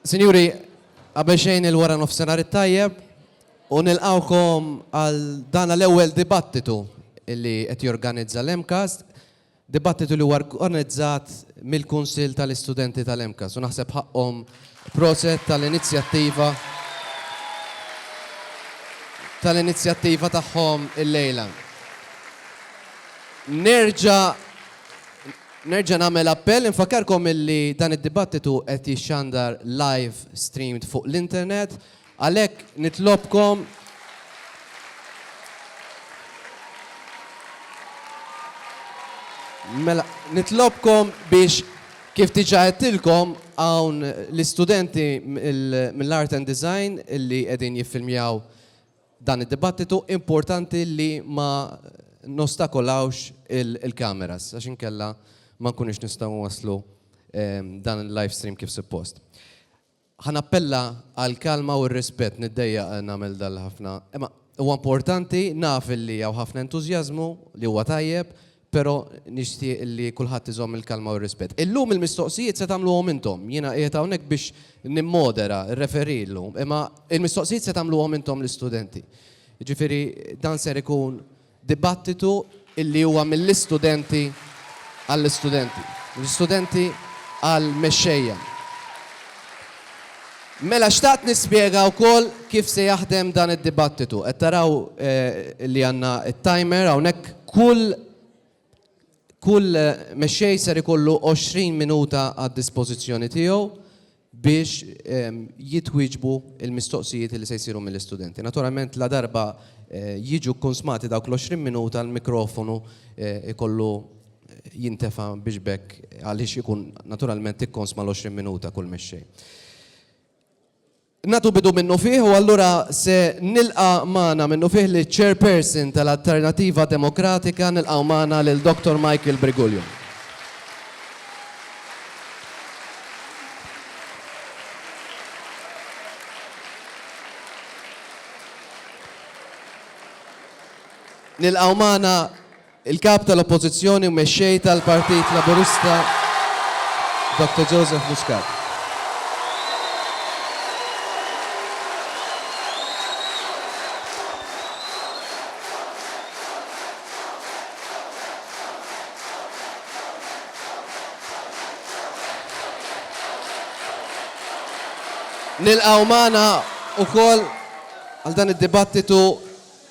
Sinjuri, qabel xejn il-wara nofsenar it-tajjeb u nilqawkom għal dan l-ewwel dibattitu li qed jorganizza l-MCAST Dibattitu li huwa rgonizzat mill-Kunsill tal-Istudenti tal-MCAST u naħseb ħaqqhom proset tal-inizjattiva tal-inizjattiva tagħhom illejla. Nerġa' nerġa' nagħmel appell, infakkarkom illi dan id-dibattitu qed jixxandar live streamed fuq l-internet, Għalhekk nitlobkom Mela, nitlobkom biex kif diġà għedtilkom hawn l-istudenti mill-Art and Design li qegħdin jiffilmjaw dan id-dibattitu importanti li ma nostakolawx il-kameras għax inkella ma nkunux nistgħu nwasslu dan il-live stream kif suppost. Ħa nappella għall-kalma u r-rispett. Niddejjaq nagħmel dan li ħafna, imma huwa importanti, naf li hawn ħafna entużjażmu li huwa tajjeb, però nixtieq li kulħadd iżomm il-kalma u r-rispett. Illum il-mistoqsijiet se tagħmluhom intom. Jiena qiegħed hawnhekk biex nimmodera, referee llum, imma l-mistoqsijiet se tagħmluhom intom l-istudenti. Jiġifieri dan ser ikun Dibattitu illi huwa mill-istudenti għall-istudenti, mill-istudenti għall-mexxejja. Mela xtaqt nispjega wkoll kif se jaħdem dan id-dibattitu. Qed taraw li għandna t-timer hawnhekk. Kull Kull mexxej ser ikollu 20 minuta għad-dispożizzjoni tiegħu biex jitwieġbu l-mistoqsijiet li se jsiru mill-istudenti. Naturalment ladarba jiġu kkunsmati dawk l-20 minuta l-mikrofonu jkollu jintefa' biex b'hekk għaliex ikun naturalment ikkonsma l-20 minuta kull mexxej. Nagħtu bidu minnufih u allura se nilqa' magħna minnufih liċ-Chairperson tal-Alternattiva Demokratika, nilqgħu magħna lil Dottor Michael Briguglio. Nilqgħu magħna Il-Kap tal-Oppożizzjoni u Mexxej tal-Partit Laburista Doctor Joseph Muscat. Nilqgħu magħna wkoll għal dan id-dibattitu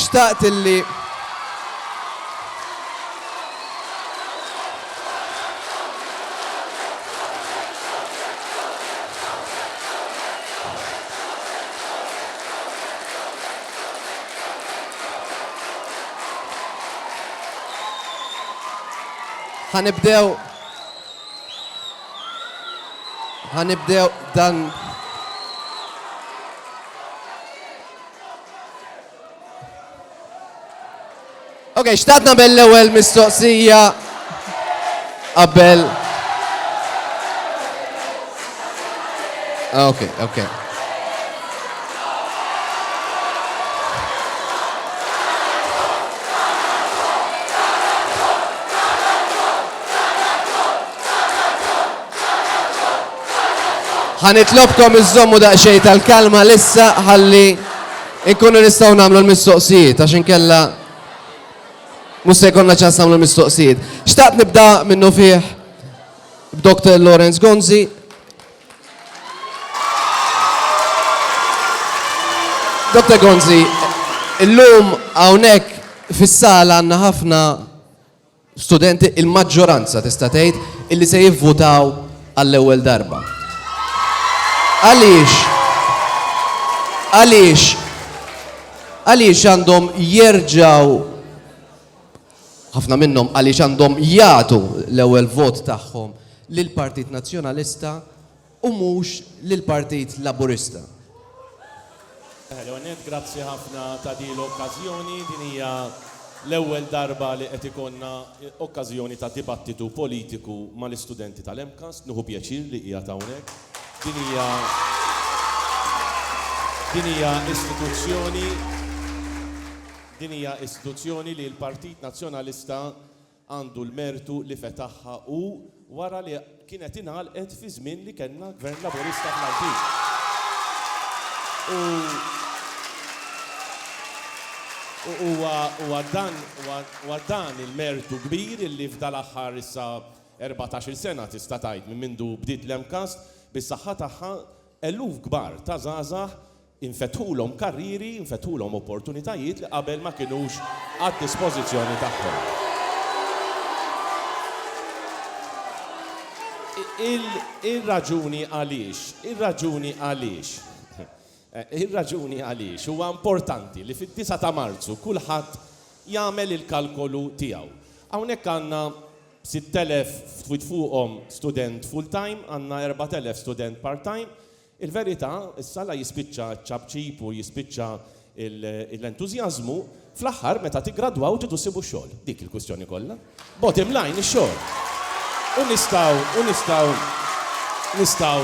Xtaqt illi Ħanibdew Ħa nibdew dan Ok, xtaqt nagħmel l-ewwel mistoqsija qabel. Ah, ok, ok. Ħa nitlobkom iżżommu daqsxejn tal-kalma lissa ħalli nkunu nistgħu nagħmlu l-mistoqsijiet għax inkella mhux se jkollna ċans nagħmlu l-mistoqsijiet. Xtaqt nibda minnu fih b'Dr. Lawrence Gonzi Dr. Gonzi, illum hawnhekk fis-sala għandna ħafna studenti, il-maġġoranza tista' tgħid illi se jivvutaw għall-ewwel darba. Għaliex? Għaliex? Għaliex għandhom jerġgħu ħafna minnhom għaliex għandhom jagħtu l-ewwel vot tagħhom lill-Partit Nazzjonalista u mhux lill-Partit Laburista. L-ewwel nett, grazzi ħafna ta' din l-okkażjoni. Din hija l-ewwel darba li qed ikollna okkażjoni ta' dibattitu politiku mal-istudenti tal-MCAST. Nieħu pjaċir li qiegħed hawnhekk. Din hija din hija istituzzjoni din hija istituzzjoni li l-Partit Nazzjonalista għandu l-mertu li fetaħha hu wara li kienet ingħalqet fi żmien li kellna Gvern Laburista fl-Għawdxin. U huwa dan il-mertu kbir illi f'dal-aħħar issa erbatax-il sena tista' tgħid minn mindu bdiet l-MCAST, bis-saħħa tagħha eluf kbar ta' żgħażagħ Infetħulhom karrieri, infetħulhom opportunitajiet li qabel ma kinux għad-dispożizzjoni tagħhom. Ir-raġuni għaliex, ir-raġuni għaliex, ir-raġuni għaliex huwa importanti li fid-disgħa ta' Marzu kulħadd jagħmel il-kalkolu tiegħu. Hawnhekk għandna 6,000, ftit fuqhom, student full-time, għandna 4,000 student part-time, Il-verità, issa la jispiċċa ċ-ċapċip u jispiċċa l-entużjażmu, fl-aħħar meta tiggradwaw tridu ssibu x-xogħol. Dik il-kwistjoni kollha. Bottom line, ix-xogħol. U nistgħu, u nistgħu, nistgħu,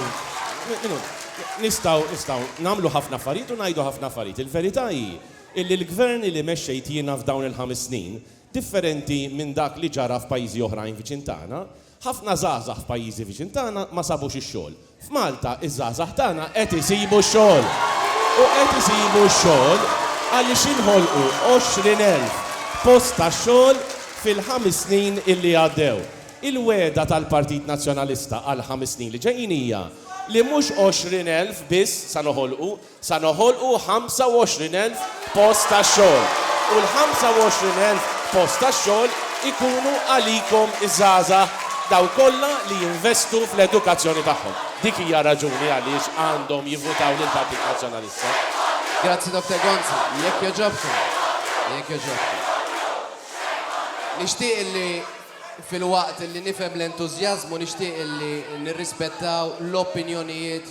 nistgħu, nistgħu nagħmlu ħafna affarijiet u ngħidu ħafna affarijiet. Il-verità hi illi l-Gvern li mexxejt jiena f'dawn il-ħames snin, differenti minn dak li ġara f'pajjiżi oħrajn viċin tagħna, Ħafna żgħażagħ f'pajjiżi viċin tagħna ma sabux ix-xogħol. F'Malta ż-żgħażagħ tagħna qed isibu x-xogħol. U qed isibu x-xogħol għaliex inħolqu 20,000 post tax-xogħol fil-ħames snin illi għaddew. Il-wegħda tal-Partit Nazzjonalista għall-ħames snin li ġejjin hija li mhux 20,000 biss sa noħolqu sa noħolqu 25,000 post tax-xogħol u l-25,000 post tax-xogħol ikunu għalikom iż-żgħażagħ dawk kollha li jinvestu fl-edukazzjoni tagħhom. Dik hija r-raġuni għaliex għandhom jivvutaw lill-Partit Nazzjonalista. Grazzi Dottor Gonzi. Jekk jogħġobkom, jekk jogħġobkom. Nixtieq illi filwaqt illi nifhem l-entużjażmu nixtieq illi nirrispettaw l-opinjonijiet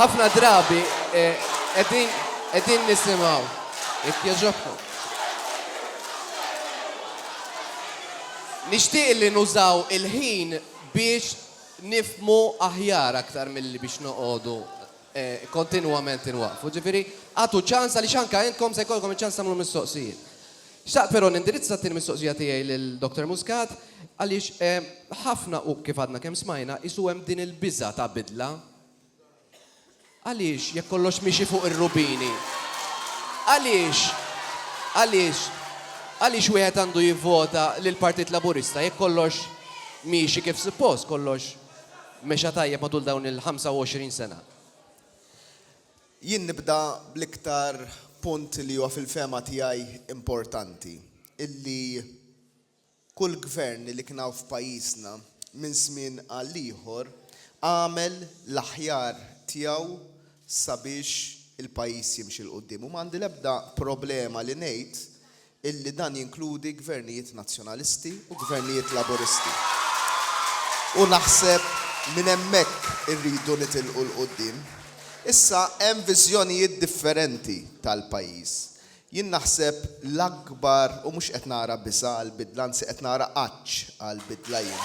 Ħafna drabi qegħdin qegħdin nisimgħu. Jekk jogħġobkom. Nixtieq li nużaw il-ħin biex nifhmu aħjar aktar milli biex noqogħdu kontinwament inwaqqfu. Ġifieri agħtu ċans għaliex anke intkom se jkollkom iċ-ċans tagħmlu mistoqsijiet. Xtaqt però nindirizza t-tieni mistoqsija tiegħi lil Dottor Muscat għaliex ħafna u kif għadna kemm smajna qisu hemm din il-biża' ta' bidla. Għaliex jekk kollox miexi fuq ir-rubini għaliex għaliex għaliex wieħed għandu jivvota lill-Partit Laburista jekk kollox miexi kif suppost kollox mexa tajjeb matul dawn il-25 sena? Jien nibda bl-iktar punt li huwa fil-fehma tiegħi importanti, illi kull gvern li kien hawn f'pajjiżna minn żmien għal ieħor għamel l-aħjar tiegħu sabiex il-pajjiż jimxi 'l quddiem u m'għandi l-ebda problema li ngħid illi dan jinkludi Gvernijiet Nazzjonalisti u Gvernijiet Laburisti. U naħseb minn hemmhekk irridu nitilqu 'l quddiem. Issa, hemm viżjonijiet differenti tal-pajjiż. Jien naħseb l-akbar, u mhux qed nara biss għal bidla, anzi qed nara għadd, Mhux għall-bidla jien.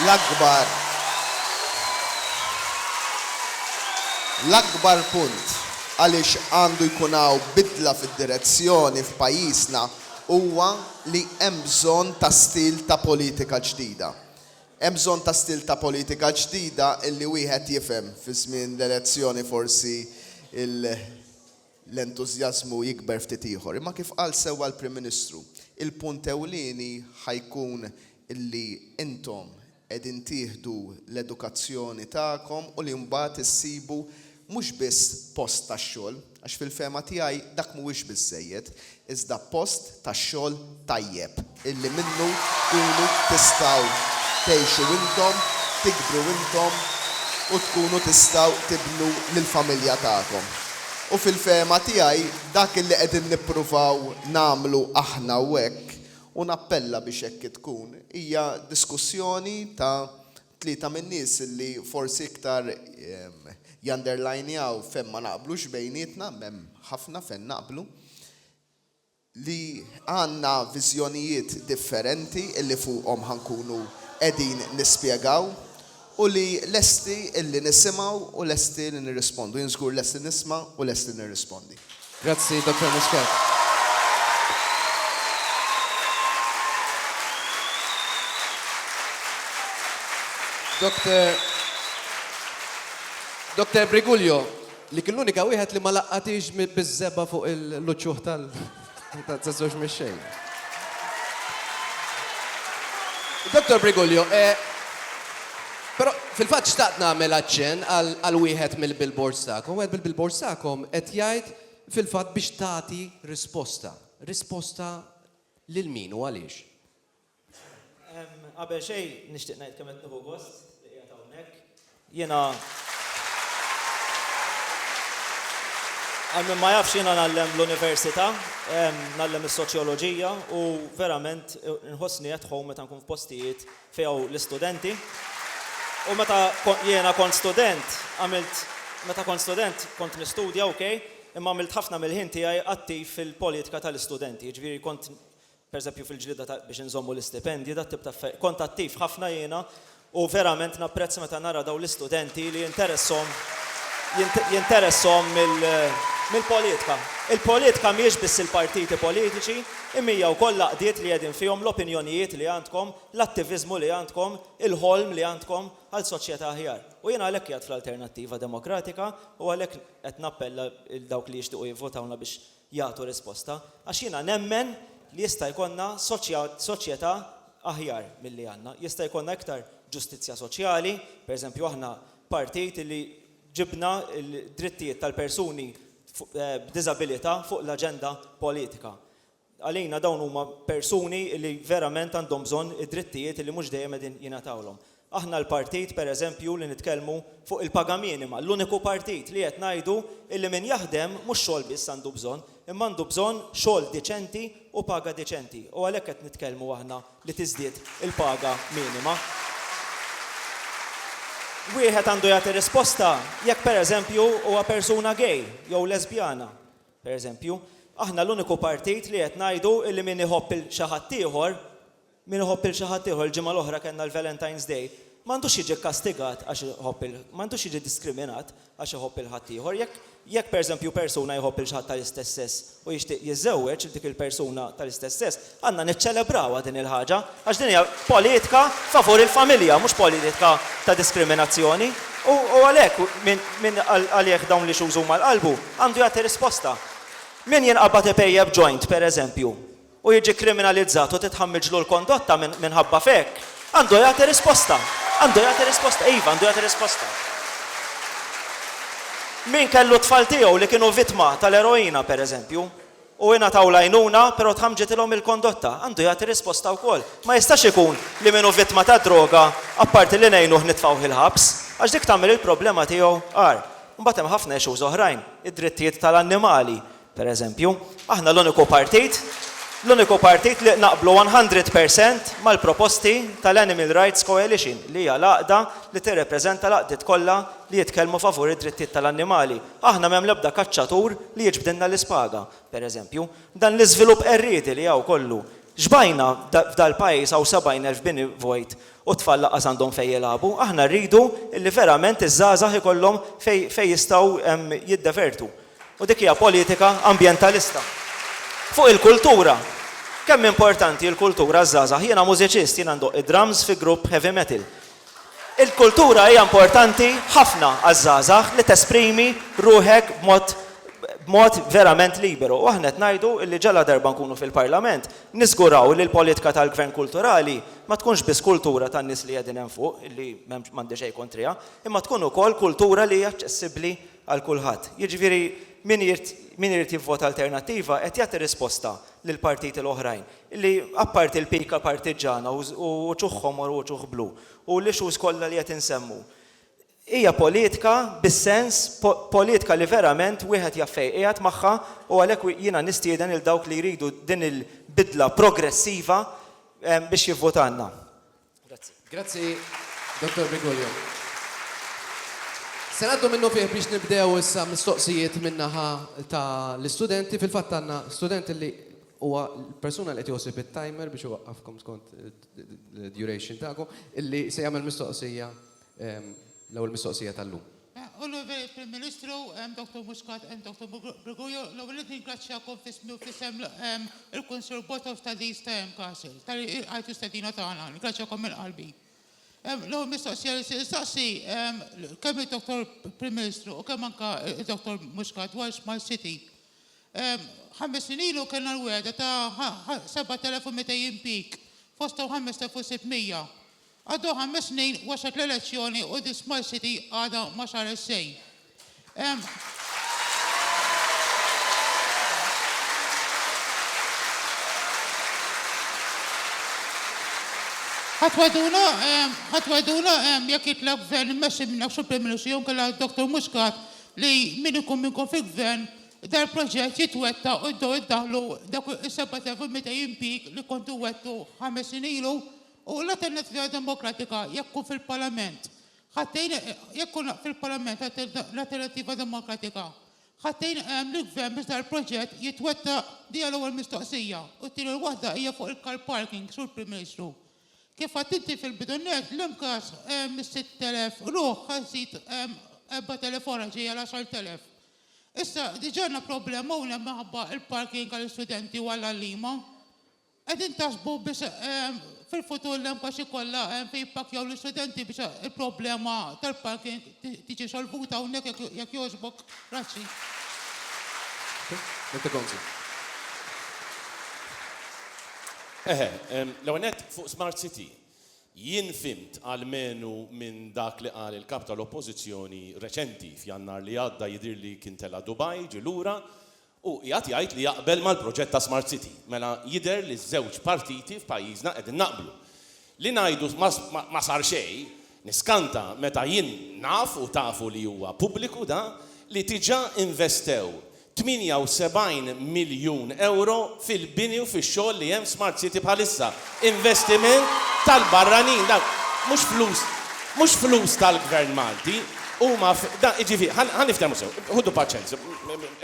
L-akbar l-akbar punt għaliex għandu jkun hawn bidla fid-direzzjoni f'pajjiżna huwa li hemm bżonn ta' stil ta' politika ġdida. Hemm bżonn ta' stil ta' politika ġdida illi wieħed jifhem fi żmien l-elezzjoni forsi il, l-entużjażmu jikber ftit ieħor. Imma kif qal sewwa l-Prim Ministru, il-punt ewlieni ħa jkun li intom qegħdin tieħdu l-edukazzjoni tagħkom u li mbagħad issibu mhux biss post tax-xogħol, għax fil-fehma tiegħi dak mhuwiex biżżejjed, iżda post tax-xogħol tajjeb illi minnu tkunu tistgħu tgħixu intom, tikbru intom u tkunu tistgħu tibnu lill-familja tagħkom. U fil-fehma tiegħi dak illi qegħdin nippruvaw nagħmlu aħna hawnhekk, u nappella biex hekk tkun, hija diskussjoni ta' Tlieta min-nies li forsi iktar janderlajnjaw fejn ma naqblux bejnietna, hemm ħafna fejn naqblu, li għandna viżjonijiet differenti li fuqhom ħa nkunu qegħdin nispjegaw u li lesti li nisimgħu u lesti li nirrispondu. Jien żgur lest li nisma' u lest li nirrispondi. Grazzi, Dottor Muscat. Dottor Dottor Briguglio, li kien l-unika wieħed li ma laqqatix biż-żebgħa fuq il-luċċuh tal taż-żewġ mexxej. Dottor Briguglio, eh, Però, fil-fatt xtaqt nagħmel aċċenn għal wieħed mill-billboards tagħkom. Wieħed mill-billboards tagħkom qed jgħid fil-fatt biex tagħti risposta. Risposta lil min u għaliex? Qabel xejn nixtieq ngħid kemm qed nieħu gost li qiegħed hawnhekk. Jiena Għal min ma jafx jiena ngħallem l-università, ngħallem is-soċjoloġija u verament inħossni at home meta nkun f'postijiet f'ew l-istudenti u meta jiena kont student għamilt meta kont student kont nistudja ok imma għamilt ħafna mill-ħin tiegħi attiv fil-politika tal-istudenti jiġifieri kont pereżempju fil-ġlieda ta' biex inżommu l-istipendji dat-tip ta' affe kont attiv ħafna jiena u verament napprezz meta nara dawn l-istudenti li jinteresshom jinteresshom mill-politika il-politika mhijiex biss il-partiti politiċi Imija wkoll l-għaqdiet li qegħdin fihom l-opinjonijiet li għandkom, l-attiviżmu li għandkom, il-ħolm li għandkom għal soċjetà aħjar. U jiena għalhekk qiegħed fl-Alternattiva Demokratika u għalhekk qed nappella 'l dawk li jixtiequ jivvotawlna biex jagħtu risposta, għax jiena nemmen li jista' jkollna soċjetà aħjar milli għandna. Jista' jkollna iktar ġustizzja soċjali, pereżempju aħna partit li, ġibna d-drittijiet tal-persuni b'diżabilità fuq l-aġenda politika. Għalina dawn huma persuni li verament għandhom bżonn id-drittijiet li mhux dejjem qegħdin jingħatawlhom. Aħna l-partit, per eżempju, li nitkellmu fuq il-paga minima, l-uniku partit li qed ngħidu li min jaħdem mhux xogħol biss għandu bżonn, imma għandu bżonn xogħol diċenti u paga diċenti. U għalhekk qed nitkellmu aħna li tiżdied il-paga minima. Wieħed għandu jagħti risposta jekk pereżempju huwa persuna gay jew lesbjana, pereżempju. Aħna l-uniku partit li qed ngħidu li min iħobb 'il xi ħadd ieħor, min iħobb 'il xi ħadd ieħor, il-ġimgħa l-oħra kellna l-Valentine's Day, m'għandux jiġi kkastigat għax iħobb 'il, m'għandux jiġi diskriminat. għax iħobb lil ħaddieħor. Jekk, jekk pereżempju persuna jħobb lil xi ħadd tal-istess sess u jixtieq jiżżewweġ lil dik il-persuna tal-istess sess, għandna niċċelebrawha din il-ħaġa għax din hija politika favur il-familja, mhux politika ta' diskriminazzjoni. U, u għalhekk min, min għalih dawn l-issues huma l-qalbu għandu jagħti risposta. Min jinqabad ipejjep joint, pereżempju, u jiġi kriminalizzat u titħammiġlu l-kondotta minħabba f'hekk, għandu jagħti risposta. Għandu jagħti risposta. Iva, għandu jagħti risposta. Min kellu t-tfal tiegħu li kienu vittma tal-eroina, pereżempju, u ingħataw l-għajnuna però tħamġitilhom il-kondotta, għandu jagħti risposta wkoll. Ma jistax ikun li min hu vittma tad-droga, apparti li ngħinuh nitfgħuh il-ħabs, għax dik tagħmel il-problema tiegħu agħar. Imbagħad hemm ħafna issues oħrajn, id-drittijiet tal-annimali, Per eżempju, aħna l-uniku partit, l-uniku partit li naqblu one hundred per cent mal-proposti tal-Animal Rights Coalition, li hija l-għaqda li tirrepreżenta l-għaqdiet kollha li jitkellmu favur id-drittijiet tal-annimali. Aħna m'hemm l-ebda kaċċatur li jiġbdilna l-ispaga, per eżempju. Dan l-iżvilupp qerriedi li hawn kollu, x'bajna f'dal-pajjiż hawn 70,000 bini vojt u t-tfal lanqas għandhom fejn jilagħbu. Aħna rridu li verament iż-żgħażagħ ikollhom fejn jistgħu jiddevertu. U dik hija politika ambjentalista. Fuq il-kultura, kemm importanti il-kultura għaż-żgħażagħ? Jiena mużiċist, jiena ndoqq id-drums fi grupp heavy metal. Il-kultura hija importanti ħafna għaż-żgħażagħ li tesprimi ruħek b'mod b'mod verament liberu. U aħna qed ngħidu li ġaladarba nkunu fil-Parlament, niżguraw li l-politka tal-Gvern kulturali ma tkunx biss kultura tan-nies li qegħdin hemm fuq, li m'hemm m'għandi xejn kontriha, imma tkun ukoll kultura li hija aċċessibbli għal kulħadd. Jiġifieri min irid min irid jivvota Alternattiva qed jagħti risposta lill-partiti l-oħrajn li apparti l-pika partiġġana u u uċuh ħomor u uċuh blu u l-issues kollha li qed insemmu hija politika bis-sens politika li verament wieħed jaf fejn qiegħed magħha u għalhekk jiena nistieden lil dawk li jridu din il-bidla progressiva biex jivvotalna. Grazzi. Grazzi, Dottor Briguglio. Se ngħaddu minnufih biex nibdew issa mistoqsijiet min-naħa ta' l-istudenti. Fil-fatt għandna student li huwa l-persuna li qed jħossib it-timer biex iwaqqafkom skont id-duration tagħkom, illi se jagħmel mistoqsija L-ewwel mistoqsija tal-lum. Onorevoli Prim Ministru, Dottor Muscat, Dottor Briguglio, l-ewwel nett ningrazzjakom f'ismi u f'isem il-Kunsill Botox ta' din stqarrija mkasr, talli ilqajtu stedina tagħna. Ningrazzjakom minn qalbi. L-ewwel mistoqsija li se nistaqsi kemm id-Dottor Prim Ministru u kemm anke d-Dottor Muscat dwar Smart City. Ħames snin ilu kellna l-wegħda ta' 7,200 impjieg, fosthom 5,600. Għaddew ħames snin waslet l-elezzjoni u The Smile City għadha ma saret xejn. Ħatweduna, ħatweduna jekk jitlaq gvern immexxi minn Sur Prim Ministru jew kella Dr. Muscat li min ikun min ikun fil-gvern dal-proġett jitwetta u jibdew iddaħlu dak is-7200 impjieg li kontu wettu ħames snin ilu U la Tendenza Demokratika jekk hu fil-Parlament ħa tgħin jekk hu la fil-Parlament la Tendenza Demokratika ħa tgħin lill-Gvern biex dal-proġett jitwettaq dija l-ewwel mistoqsija u t-tieni waħda hija fuq il-car parking Sur Prim Ministru kif għedt inti fil-bidu nett l-MCAS mis-sitt elef ruħ ħa żżid erbat elef oħra ġejja l-għaxart elef issa diġà għandna problema hawnhekk minħabba l-parking għall-istudenti u għall-għalliema Qegħdin taħsbu biex fil-futur l-MKAX ikollha fejn jippakkjaw l-istudenti biex il-problema tal-parking tiġi solvuta hawnhekk jekk jogħġbok? Grazzi. Mr. Gonzi. Eħe, l-ewwel nett fuq Smart City, jien fhimt almenu minn dak li qal il-Kap tal-Oppożizzjoni reċenti, f'Jannar li għadda jidhirli kien tela' Dubai, ġie lura, Hu qiegħed jgħid li jaqbel mal-proġett ta' Smart City. Mela jidher li ż-żewġ partiti f'pajjiżna qegħdin naqblu. Li ngħidu ma sar xejn, niskanta meta jien naf u tafu li huwa pubbliku da, li diġà investew 78 miljun ewro fil-bini u fix-xogħol li hemm f'Smart City bħalissa. Investiment tal-barranin, dawn mhux flus, mhux flus tal-Gvern Malti, huma, dawn, jiġifieri, ħa, ħa niftehmu sew, ħudu paċenzja,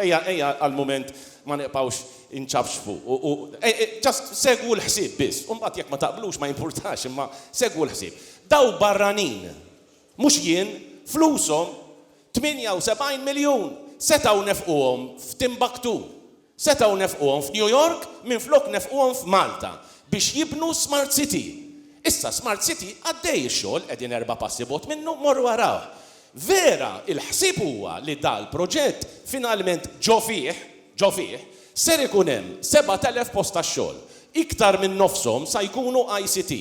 ejja, ejja għall-mument ma nibqgħux inċafċfu u, u, just segwu l-ħsieb biss, u mbagħad jekk ma taqblux ma jimpurtax imma segwu l-ħsieb. Dawn barranin, mhux jien, flushom 78 miljun setgħu nefquhom f'Timbuktu, setgħu nefquhom f'New York minflok nefquhom f'Malta biex jibnu Smart City. Issa Smart City għaddej ix-xogħol qegħdin erba' passi bogħod minnu morru arawh. Vera il-ħsieb huwa li dal-proġett finalment ġo fih, ġo fih, ser ikun hemm 7,000 post tax-xogħol. Iktar minn nofshom sa jkunu ICT,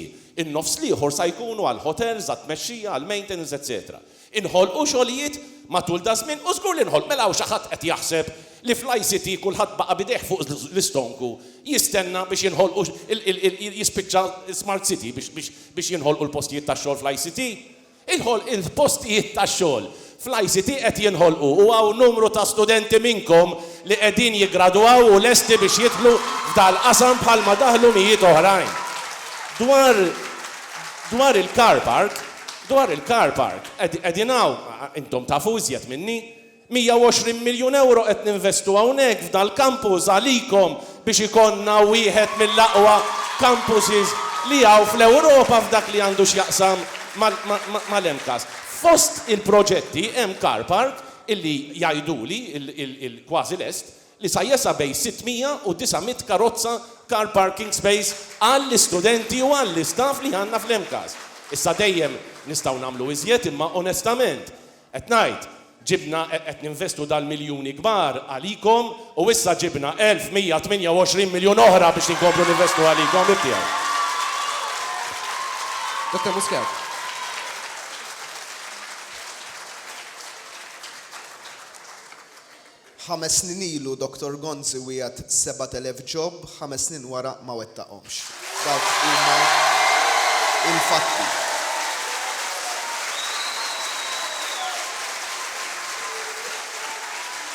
in-nofs l-ieħor sa jkunu għall-hotels, għat-tmexxija, għall-maintenance etc. Inħolqu xogħlijiet matul daż-żmien u żgur li nħolq. Mela hawn xi ħadd qed jaħseb li fl-ICT kulħadd baqa' b'idejh fuq l-istonku jistenna biex jinħolqu jispiċċa smart city biex jinħolqu l-postijiet tax-xogħol fl-ICT? Il-postijiet tax-xogħol fl-ICT qed jinħolqu u hawn numru ta' studenti minnkom li qegħdin jiggradwaw u lesti biex jidħlu f'dal-qasam bħalma daħlu mijiet oħrajn. Dwar il-car park, Dwar il-car park, qegħdin hawn, intom tafu iżjed minni, 120 miljun ewro qed ninvestu hawnhekk f'dal-campus għalikom biex ikollna wieħed mill-aqwa campuses li hawn fl-Ewropa f'dak li għandu x'jaqsam mal-MCAS. Fost il-proġetti hemm car park illi jgħiduli, il-kważi lest, li sa jesa' bejn 600 u 900 karozza, car parking space, għall-istudenti u għall-istaff li għandna fl-MCAST. Issa dejjem nistgħu nagħmlu iżjed imma onestament qed ngħid, ġibna, qed ninvestu dal-miljuni kbar għalikom u issa ġibna 1,128 miljun oħra biex inkomplu ninvestu għalikom, ħbib tiegħi. Dottor Muscat. Ħames snin ilu Doctor Gonzi wiegħed 7,000 job, ħames snin wara ma wettaqhomx. Dawk huma l-fatti.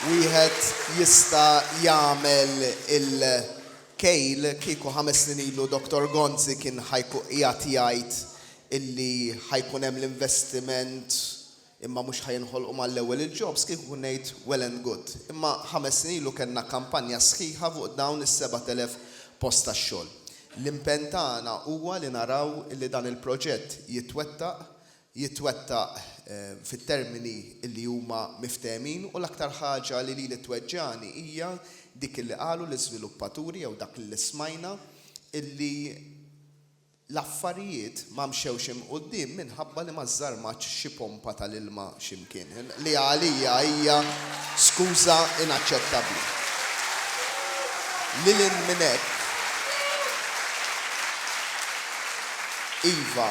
Wieħed jista' jagħmel il-kejl kieku ħames snin ilu Doctor Gonzi kien ħa jkun qiegħed jgħid illi ħa jkun hemm l-investiment, Imma mhux ħa jinħolqu mal-ewwel il-jobs kieku ngħid well and good. Imma ħames snin ilu kellna kampanja sħiħa fuq dawn is-sebat elef post tax-xogħol. L-impenn tagħna huwa li naraw li dan il-proġett jitwettaq, jitwettaq fit-termini li huma miftehmin u l-aktar ħaġa li lili tweġġagħni hija dik li qalu l-iżviluppaturi jew dak li smajna li L-affarijiet ma mxewx 'il quddiem minħabba li ma żżarmatx xi pompa tal-ilma xi mkien, li għalija hija skuża inaċċettabbli. Lil hinn minn hekk, iva,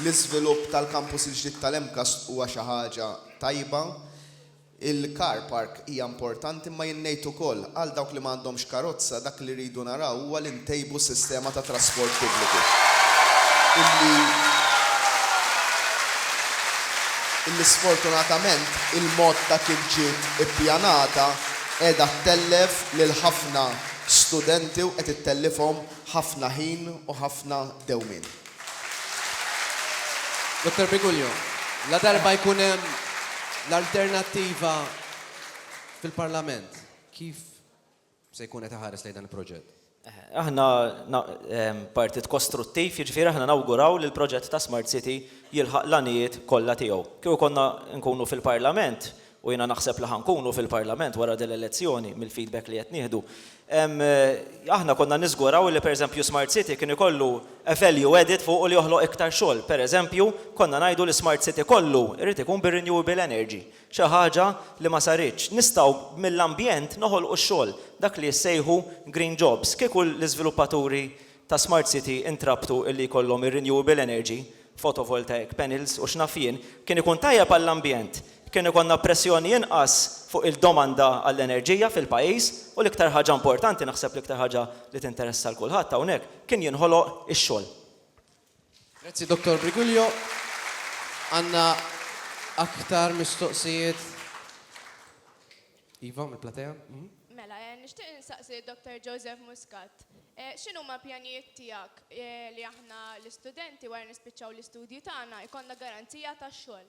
l-iżvilupp tal-kampus il-ġdid tal-MCAST huwa xi ħaġa tajba. Il-car park hija importanti imma jien ngħid ukoll, għal dawk li ma għandhomx karozza, dak li rridu naraw huwa li ntejbu s-sistema ta' trasport pubbliku illi illi sfortunatament il-mod ta' kif ġiet ippjanata qiegħda ttellef lil ħafna studenti u qed ittellifhom ħafna ħin u ħafna dewmien. Dottor Biguljo, ladarba jkun hemm l-Alternattiva fil-Parlament, kif se jkun qed iħares lejn dan il-proġett? Aħna partit kostruttiv, jiġifieri aħna nawguraw li l-proġett ta' Smart City jilħaq l-għanijiet kollha tiegħu. Kieku konna nkunu fil-Parlament, u jiena naħseb li ħa nkunu fil-Parlament wara din l-elezzjoni mill-feedback li qed nieħdu, aħna konna niżguraw li pereżempju Smart City kien ikollu a value added fuqu li joħloq iktar xogħol. Pereżempju, konna ngħidu li Smart City kollu jrid ikun bir-renewable energy, xi ħaġa li ma saritx. Nistgħu mill-ambjent noħolqu x-xogħol, dak li jissejħu green jobs. Kieku l-iżviluppaturi ta' Smart City intrabtu li jkollhom ir-renewable energy, photovoltaic panels u x'naf jien, kien ikun tajjeb għall-ambjent, kien ikollna pressjoni inqas fuq il-domanda għall-enerġija fil-pajjiż u l-iktar ħaġa importanti, naħseb l-iktar ħaġa li tinteressa 'l kulħadd hawnhekk, kien jinħoloq ix-xogħol. Grazzi Dottor Briguglio. Għandna aktar mistoqsijiet. Iva, mill-platea. Mela, eh, nixtieq insaqsi Dr. Joseph Muscat. Eh, X'inhuma pjanijiet tiegħek eh, li aħna l-istudenti wara nispiċċaw l-istudji tagħna jkollna garanzija tax-xogħol?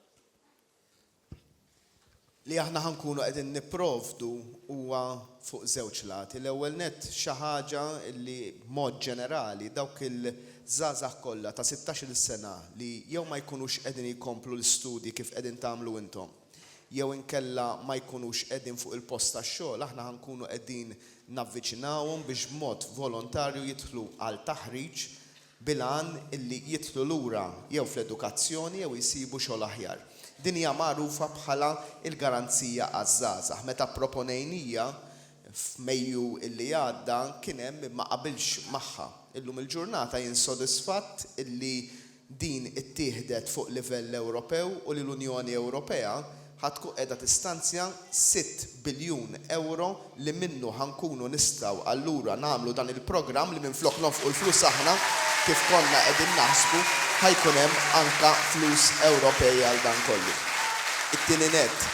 li aħna ħa nkunu qegħdin nipprovdu huwa fuq żewġ lati. L-ewwel nett xi ħaġa li b'mod ġenerali dawk il-żgħażagħ kollha ta' sittax-il sena li jew ma jkunux qegħdin jkomplu l-istudji kif qegħdin tagħmlu intom jew inkella ma jkunux qegħdin fuq il-post tax-xogħol aħna ħa nkunu qegħdin navviċinawhom biex b'mod volontarju jidħlu għal taħriġ bil-għan li jidħlu lura jew fl-edukazzjoni jew jsibu xogħol aħjar. Din hija magħrufa bħala l-Garanzija għaż-Żgħażagħ. Meta pproponejnija f'Mejju li għadda kien hemm min ma qabilx magħha. Illum il-ġurnata jien sodisfatt li din ittieħdet fuq livell Ewropew u li l-Unjoni Ewropea ħa tkun qiegħda tistanzja sitt biljun ewro li minnu ħa nkunu nistgħu allura nagħmlu dan il-programm li minflok nonfqu l-flus aħna kif konna qegħdin naħsbu ħa jkun hemm anke flus Ewropej għal dan kollu. It-tieni nett,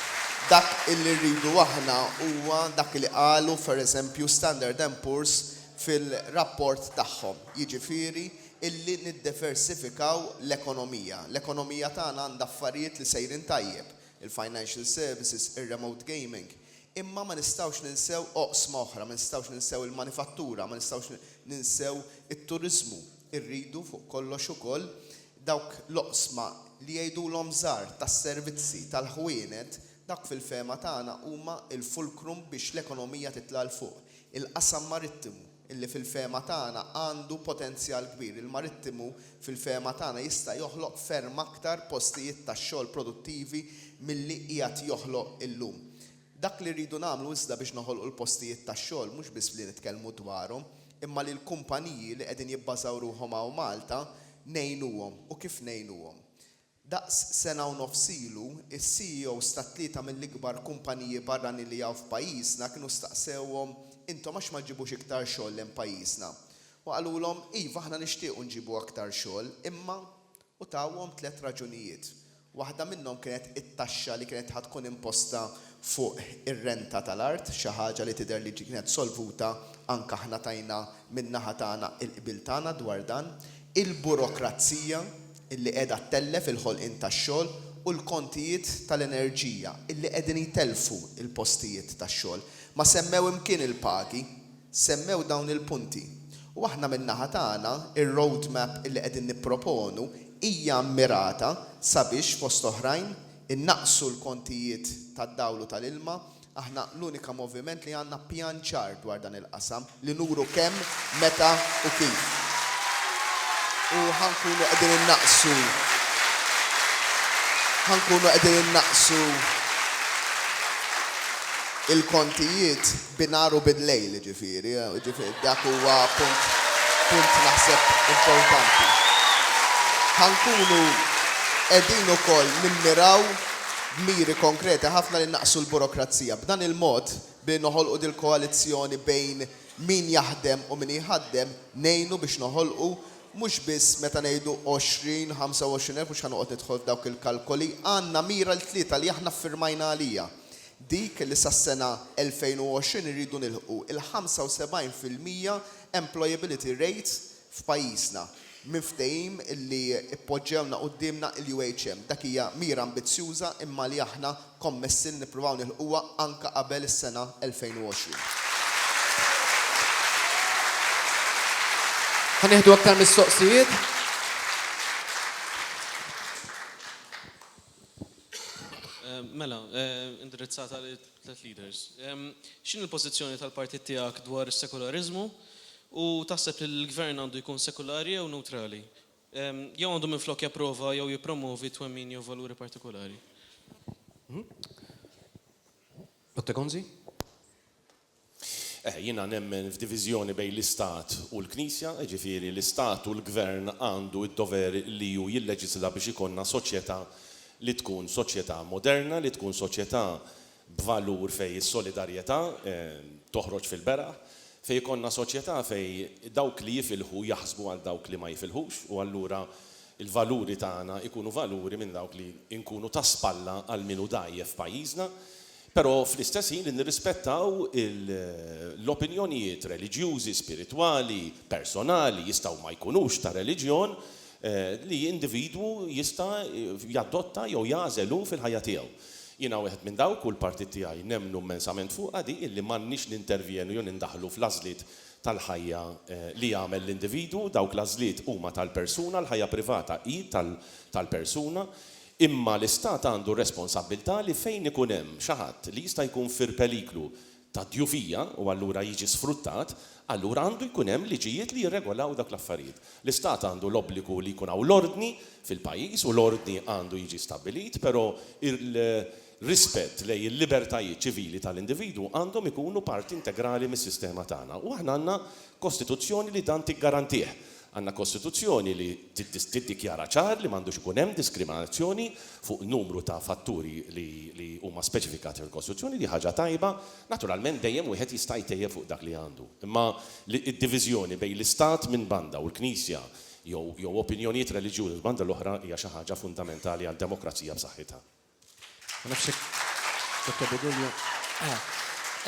dak illi rridu aħna huwa dak li qalu per eżempju Standard and Poor's fil-rapport tagħhom, jiġifieri illi niddiversifikaw l-ekonomija. L-ekonomija tagħna għandha affarijiet li sejrin tajjeb, il-financial services, ir-remote gaming, imma ma nistgħux ninsew oqsma oħra, ma nistgħux ninsew il-manifattura, ma nistgħux ninsew it-turiżmu. Irridu fuq kollox ukoll dawk l-oqsma li jgħidulhom żgħar tas-servizzi, tal-ħwienet, dawk fil-fehma tagħna huma l-fulcrum biex l-ekonomija titla' 'l fuq, il-qasam marittimu. li fil-fehma tagħna għandu potenzjal kbir. Il-marittimu fil-fehma tagħna jista' joħloq ferm aktar postijiet tax-xogħol produttivi milli qiegħed joħloq illum. Dak li rridu nagħmlu iżda biex noħolqu l-postijiet tax-xogħol mhux biss li nitkellmu dwarhom imma li l-kumpaniji li qegħdin jibbażaw ruħhom hawn Malta ngħinuhom u kif ngħinuhom. Daqs sena u nofs ilu, is-CEOs ta' tlieta mill-ikbar kumpaniji barranin li hawn f'pajjiżna kienu staqsewhom, Intom għax ma ġġibux iktar xogħol lejn pajjiżna? U qalulhom, Iva, aħna nixtiequ nġibu aktar xogħol, imma. U tawhom tliet raġunijiet. Waħda minnhom kienet it-taxxa li kienet ħa tkun imposta fuq ir-renta tal-art, xi ħaġa li tidher li kienet solvuta, anke aħna tajna min-naħa tagħna l-qbil tagħna dwar dan. Il-burokrazija, illi qiegħda ttellef il-ħolqien tax-xogħol u l-kontijiet tal-enerġija illi qegħdin jtellfu l-postijiet tax-xogħol. Ma semmew imkien il-pagi, semmew dawn il-punti. U aħna min-naħa tagħna r-road map illi qegħdin nipproponu hija mmirata sabiex fost oħrajn innaqqsu l-kontijiet tad-dawl u tal-ilma, Aħna l-unika moviment li għandna pjan ċar dwar dan il-qasam li nuru kemm, meta u kif. U ħa nkunu qegħdin innaqqsu ħa nkunu qegħdin innaqqsu il-kontijiet bin-nhar u bil-lejl, jiġifieri. Jiġifieri dak huwa punt punt naħseb importanti. Ħa nkunu qegħdin ukoll nimmiraw b'miri konkreti ħafna li nnaqqsu l-burokrazija. B'dan il-mod, billi noħolqu dil-koalizzjoni bejn min jaħdem u min jħaddem, ngħinu biex noħolqu, mhux biss meta ngħidu 20, 25 elf, mhux ħa noqgħod nidħol f'dawk il-kalkoli, għandna mira l-tlieta li aħna ffirmajna għaliha, dik li sas-sena 2020 irridu nilħqu il-75 fil-mija employability rate f'pajjiżna, minn ftehim li ppoġġewna quddiemna l-UHM. Dak hija mira ambizzjuża imma li aħna kommessi li nippruvaw nilħquha anke qabel is-sena 2020. Ħa nieħdu aktar mistoqsijiet. Mela, indirizzata lil. Tliet leaders. X'inhi l-pożizzjoni tal-partit tiegħek dwar is-sekulariżmu u taħseb li l-Gvern għandu jkun sekulari jew newtrali? Jew għandu minflok japprova jew jippromovi twemmin jew valuri partikulari? Otte Gonzi. Eh, jiena nemmen f'diviżjoni bejn l-Istat u l-Knisja, jiġifieri l-Istat u l-Gvern għandu d-dover li hu jilleġisla biex ikollna soċjetà li tkun soċjetà moderna, li tkun soċjetà b'valur fejn is-solidarjetà eh, toħroġ fil-beraħ, fejn ikollna soċjetà fejn dawk li jifilħu jaħsbu għal dawk li ma jifilħux u allura il-valuri tagħna jkunu valuri minn dawk li nkunu ta' spalla għal min hu dgħajjef f'pajjiżna. Però fl-istess ħin li nirrispettaw l-opinjonijiet reliġjużi, spiritwali, personali, jistgħu ma jkunux ta' reliġjon, li individwu jista' jadotta jew jagħżel hu fil-ħajja tiegħu. Jiena wieħed minn dawk, u l-partit tiegħi nemmnu mmensament fuqha di, illi m'għandniex nintervjenu jew nindaħlu fl-għażliet tal-ħajja li jagħmel l-individwu, dawk l-għażliet huma tal-persuna, l-ħajja privata hi tal-persuna. Imma l-Istat għandu r-responsabbiltà li fejn ikun hemm xi ħadd li jista' jkun fir-peliklu ta' djufija u allura jiġi sfruttat, allura għandu jkun hemm liġijiet li jirregolaw dawk l-affarijiet. L-Istat għandu l-obbligu li jkun hawn l-ordni fil-pajjiż u l-ordni għandu jiġi stabbilit, però r-rispett lejn il-libertajiet ċivili tal-individwu għandhom ikunu parti integrali mis-sistema tagħna u aħna għandna Kostituzzjoni li dan tiggarantih. Għandna Kostituzzjoni li tiddikjara ċar li m'għandux ikun hemm diskriminazzjoni fuq numru ta' fatturi li huma speċifikati fil-Kostituzzjoni, di ħaġa tajba. Naturalment dejjem wieħed jista' jtejjeb fuq dak li għandu. Imma d-diviżjoni bejn l-Istat minn banda u l-Knisja jew opinjonijiet reliġjużi l-banda l-oħra hija xi ħaġa fundamentali għal demokrazija b'saħħitha.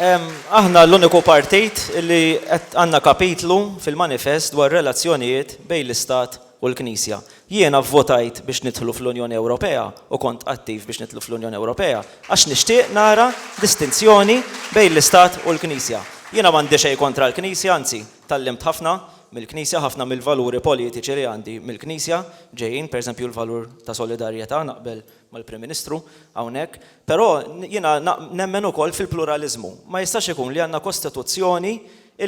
Aħna l-uniku partit li qed għandna kapitlu fil-manifest dwar relazzjonijiet bejn l-Istat u l-Knisja. Jiena vvotajt biex nidħlu fl-Unjoni Ewropea u kont attiv biex nidħlu fl-Unjoni Ewropea għax nixtieq nara distinzjoni bejn l-Istat u l-Knisja. Jiena m'għandi xejn kontra l-Knisja, anzi, tgħallimt ħafna mill-Knisja, ħafna mill-valuri politiċi li għandi mill-Knisja ġejjin, pereżempju l-valur ta' solidarjetà naqbel mal-Prim Ministru hawnhekk, però jiena nemmen ukoll fil-pluraliżmu. Ma jistax ikun li għandna kostituzzjoni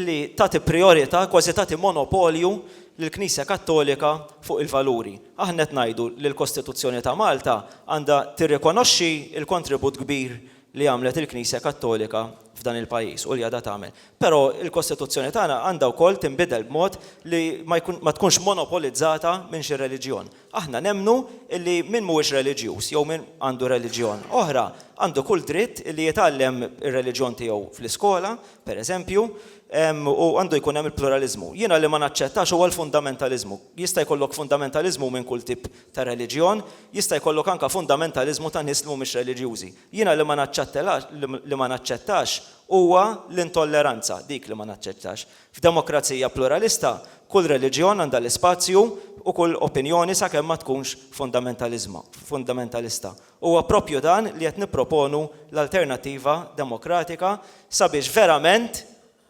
li tagħti prijorità, kważi tagħti monopolju lill-Knisja Kattolika fuq il-valuri. Aħna qed ngħidu li l-Kostituzzjoni ta' Malta għandha tirrikonoxxi l-kontribut kbir li għamlet il-Knisja Kattolika f'dan il-pajjiż u li għadha tagħmel. Però l-Kostituzzjoni tagħna għandha wkoll tinbidel b'mod li ma tkunx monopolizzata minn xi reliġjon. Aħna nemmnu illi min mhuwiex reliġjuż jew min għandu reliġjon oħra għandu kull dritt illi jitgħallem ir-reliġjon tiegħu fl-iskola, per eżempju, u għandu jkun hemm il-pluraliżmu. Jiena li ma naċċettax huwa l-fundamentaliżmu. Jista' jkollok fundamentaliżmu minn kull tip ta' reliġjon, jista' jkollok anke fundamentaliżmu ta' nies li mhumiex reliġjużi. Jiena li ma naċċettelax, li ma naċċettax huwa l-intolleranza, dik li ma naċċettax. F'demokrazija pluralista, kull reliġjon għandha l-ispazju u kull opinjoni sakemm ma tkunx fundamentaliżma, fundamentalista. Huwa proprju dan li qed nipproponu l-Alternattiva Demokratika sabiex verament,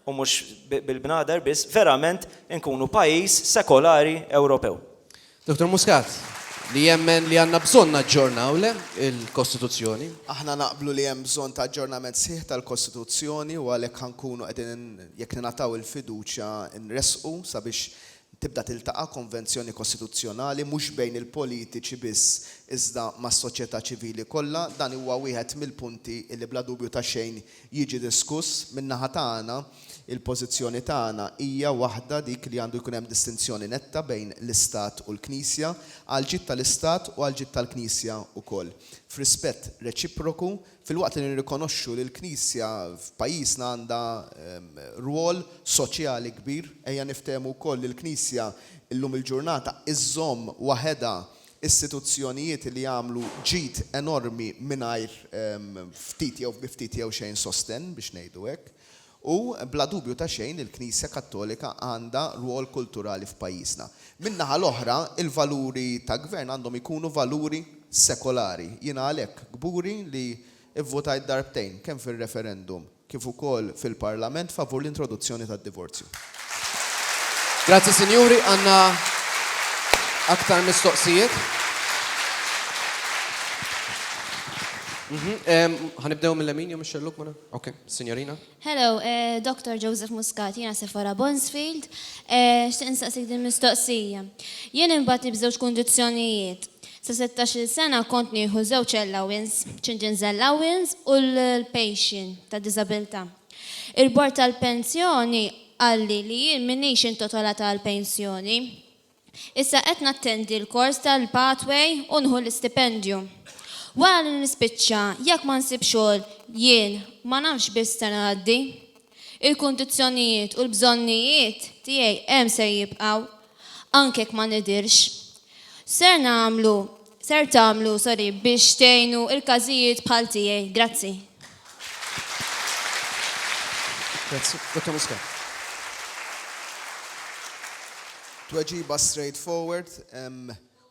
u mhux bil-bnader biss, verament inkunu pajjiż sekolari Ewropew. Dottor Muscat, li jemmen li għandna bżonn naġġornaw le il-Kostituzzjoni. Aħna naqblu li hemm bżonn ta' aġġornament sħiħ tal-Kostituzzjoni u għalhekk ħa nkunu qegħdin jekk ningħataw il-fiduċja nressqu sabiex tibda tiltaqa' konvenzjoni Kostituzzjonali mhux bejn il-politiċi biss iżda mas-soċjetà ċivili kollha. Dan huwa wieħed mill-punti li bla dubju ta' xejn jiġi diskuss, min-naħa tagħna, il-pożizzjoni tagħna hija waħda dik li għandu jkun hemm distinzjoni netta bejn l-Istat u l-Knisja, għall-ġid tal-Istat u għall-ġid tal-Knisja wkoll, f'rispett reċiproku, filwaqt li nirrikonoxxu li l-Knisja f'pajjiżna għandha rwol soċjali kbir. Ejja niftehmu wkoll li l-Knisja llum il-ġurnata iżżomm waħedha istituzzjonijiet li għamlu ġid enormi mingħajr ftit jew bi ftit jew xejn sostenn, biex ngħidu hekk. U bla dubju ta' xejn il-Knisja Kattolika għandha rwol kulturali f'pajjiżna. Min-naħa l-oħra, il-valuri ta' gvern għandhom ikunu valuri sekolari. Jiena għalhekk kburi li vvutajt darbtejn, kemm fir-referendum, kif ukoll fil-Parlament favur l-introduzzjoni tad-divorzju. Grazzi sinjuri, għandna aktar mistoqsijiet. Ħa nibdew mil-lemin jew mix-xellug mela? Okej, sinjorina. Hello, Dr. Joseph Muscat, jiena Sephora Bonsfield. Xtieq nistaqsik din mistoqsija. Jien inbatni b'żewġ kundizzjonijiet. Sa settax-il sena kont nieħu żewġ allowance, children's allowance u l-pension ta' diżabilità. Il-bord tal-pensjoni qalli li jien m'iniex intotolata għall-pensjoni. Issa qed nattendi l-kors tal-pathway u nħu l-istipendju. Wara li nispiċċa, jekk ma nsib xogħol jien ma nafx b'x'se ngħaddi. Il-kundizzjonijiet u l-bżonnijiet tiegħi hemm ser jibqgħu, anke jekk ma nidhirx. Ser nagħmlu, ser tagħmlu, sorry, biex tgħinu l-każijiet bħal tiegħi? Grazzi. Grazzi. Dottor Muscat. Tweġiba straight forward.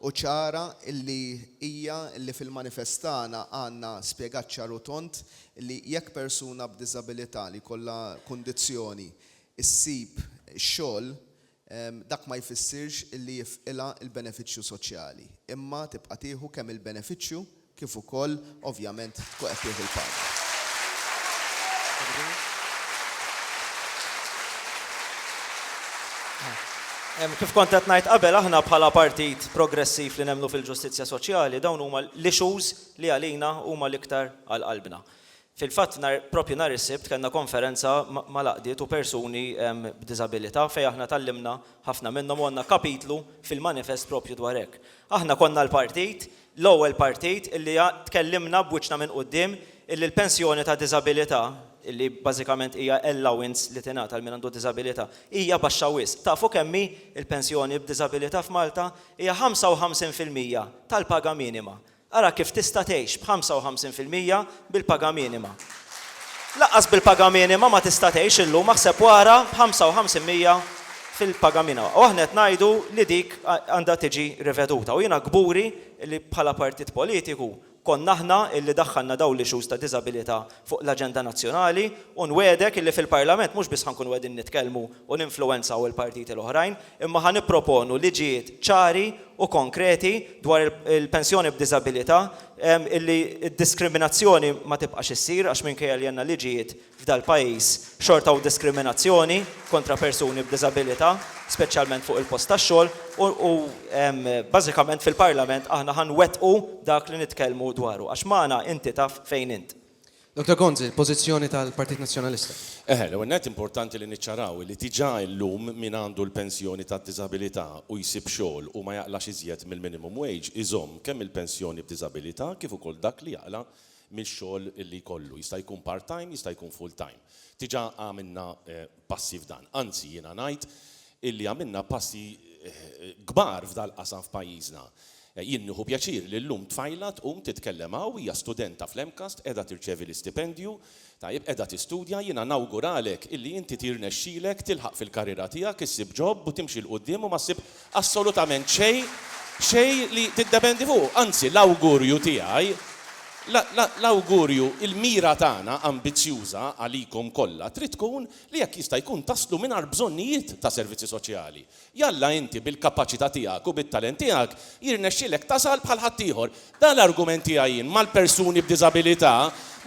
Hu ċara li hija li fil-manifest tagħna għandna spjegat ċar u tond li jekk persuna b'diżabilità li jkollha kundizzjoni ssib xogħol dak ma jfissirx li jifqilha l-benefiċċju soċjali imma tibqa' tieħu kemm il-benefiċċju kif ukoll ovvjament tkun qed tieħu l-paga. Kif kont qed ngħid qabel, aħna bħala Partit Progressiv li nemmnu fil-ġustizzja soċjali, dawn huma l-issues li għalina huma l-iktar għal qalbna. Fil-fatt nhar proprju nhar is-Sibt kellna konferenza mal-għaqdiet u persuni b'diżabilità fejn aħna tgħallimna ħafna minnhom u għandna kapitlu fil-manifest proprju dwar hekk. Aħna konna l-partit L-ewwel partit illi tkellimna b'wiċċna minn quddiem illi l-pensjoni ta' diżabilità, illi bażikament hija allowance li tingħata lil min għandu diżabilità, hija baxxa wisq. Tafu kemm hi l-pensjoni b'diżabilità f'Malta? Hija 55 fil-mija tal-paga minima. Ara kif tista' tgħix b' 55 fil-mija bil-paga minima. Lanqas bil-paga minima ma tista' tgħix illum, aħseb wara b'ħamsa u ħamsin mija fil-paga minima. U aħna qed ngħidu li dik għandha tiġi riveduta. U jiena kburi li bħala partit politiku konna aħna li daħħalna dawn l-issues ta' diżabilità fuq l-aġenda nazzjonali u nwegħdek li fil-Parlament mhux biss ħa nkunu qegħdin nitkellmu u ninfluwenzaw il-partiti l-oħrajn imma ħa nipproponu liġijiet ċari u konkreti dwar il-pensjoni b'diżabilità illi d-diskriminazzjoni ma tibqax issir għax minkejja li għandna liġijiet f'dal-pajjiż xorta hawn diskriminazzjoni kontra persuni b'diżabilità speċjalment fuq il-post tax-xogħol u bażikament fil-Parlament aħna ħa nwettqu dak li nitkellmu dwaru għax magħna inti taf fejn int. Doktor Gonzi, il-pożizzjoni tal-Partit Nazzjonalista. Eħe, l-ewwel nett importanti li niċċaraw li diġà illum min għandu l-pensjoni tad-diżabilità u jsib xogħol u ma jaqlax iżjed mill-minimum wage iżomm kemm il-pensjoni b'diżabilità kif ukoll dak li jaqla' mix-xogħol li jkollu. Jista' jkun part-time, jista' jkun full-time. Diġà għamilna passi f'dan. Anzi, jiena ngħid illi għamilna passi kbar f'dal-qasam f'pajjiżna. Jien nieħu pjaċir li llum tfajla tqum titkellem hawn, hija studenta fl-MCAST, qiegħda tirċevi l-istipendju, tajjeb, qiegħda tistudja, jiena nawguralek illi inti tirnexxilek tilħaq fil-karriera tiegħek, issib ġob u timxi 'l quddiem u ma ssib Assolutament xejn, xejn li tiddependi fuqu. Anzi, l-awgurju tiegħi, l-awgurju, il-mira tagħna ambizzjuża għalikom kollha trid tkun li jekk jista' jkun taslu mingħajr bżonnijiet ta' servizzi soċjali. Jalla inti bil-kapaċità tiegħek u bit-talent tiegħek jirnexxilek tasal bħal ħaddieħor. Dan l-argument tiegħi jien mal-persuni b'diżabilità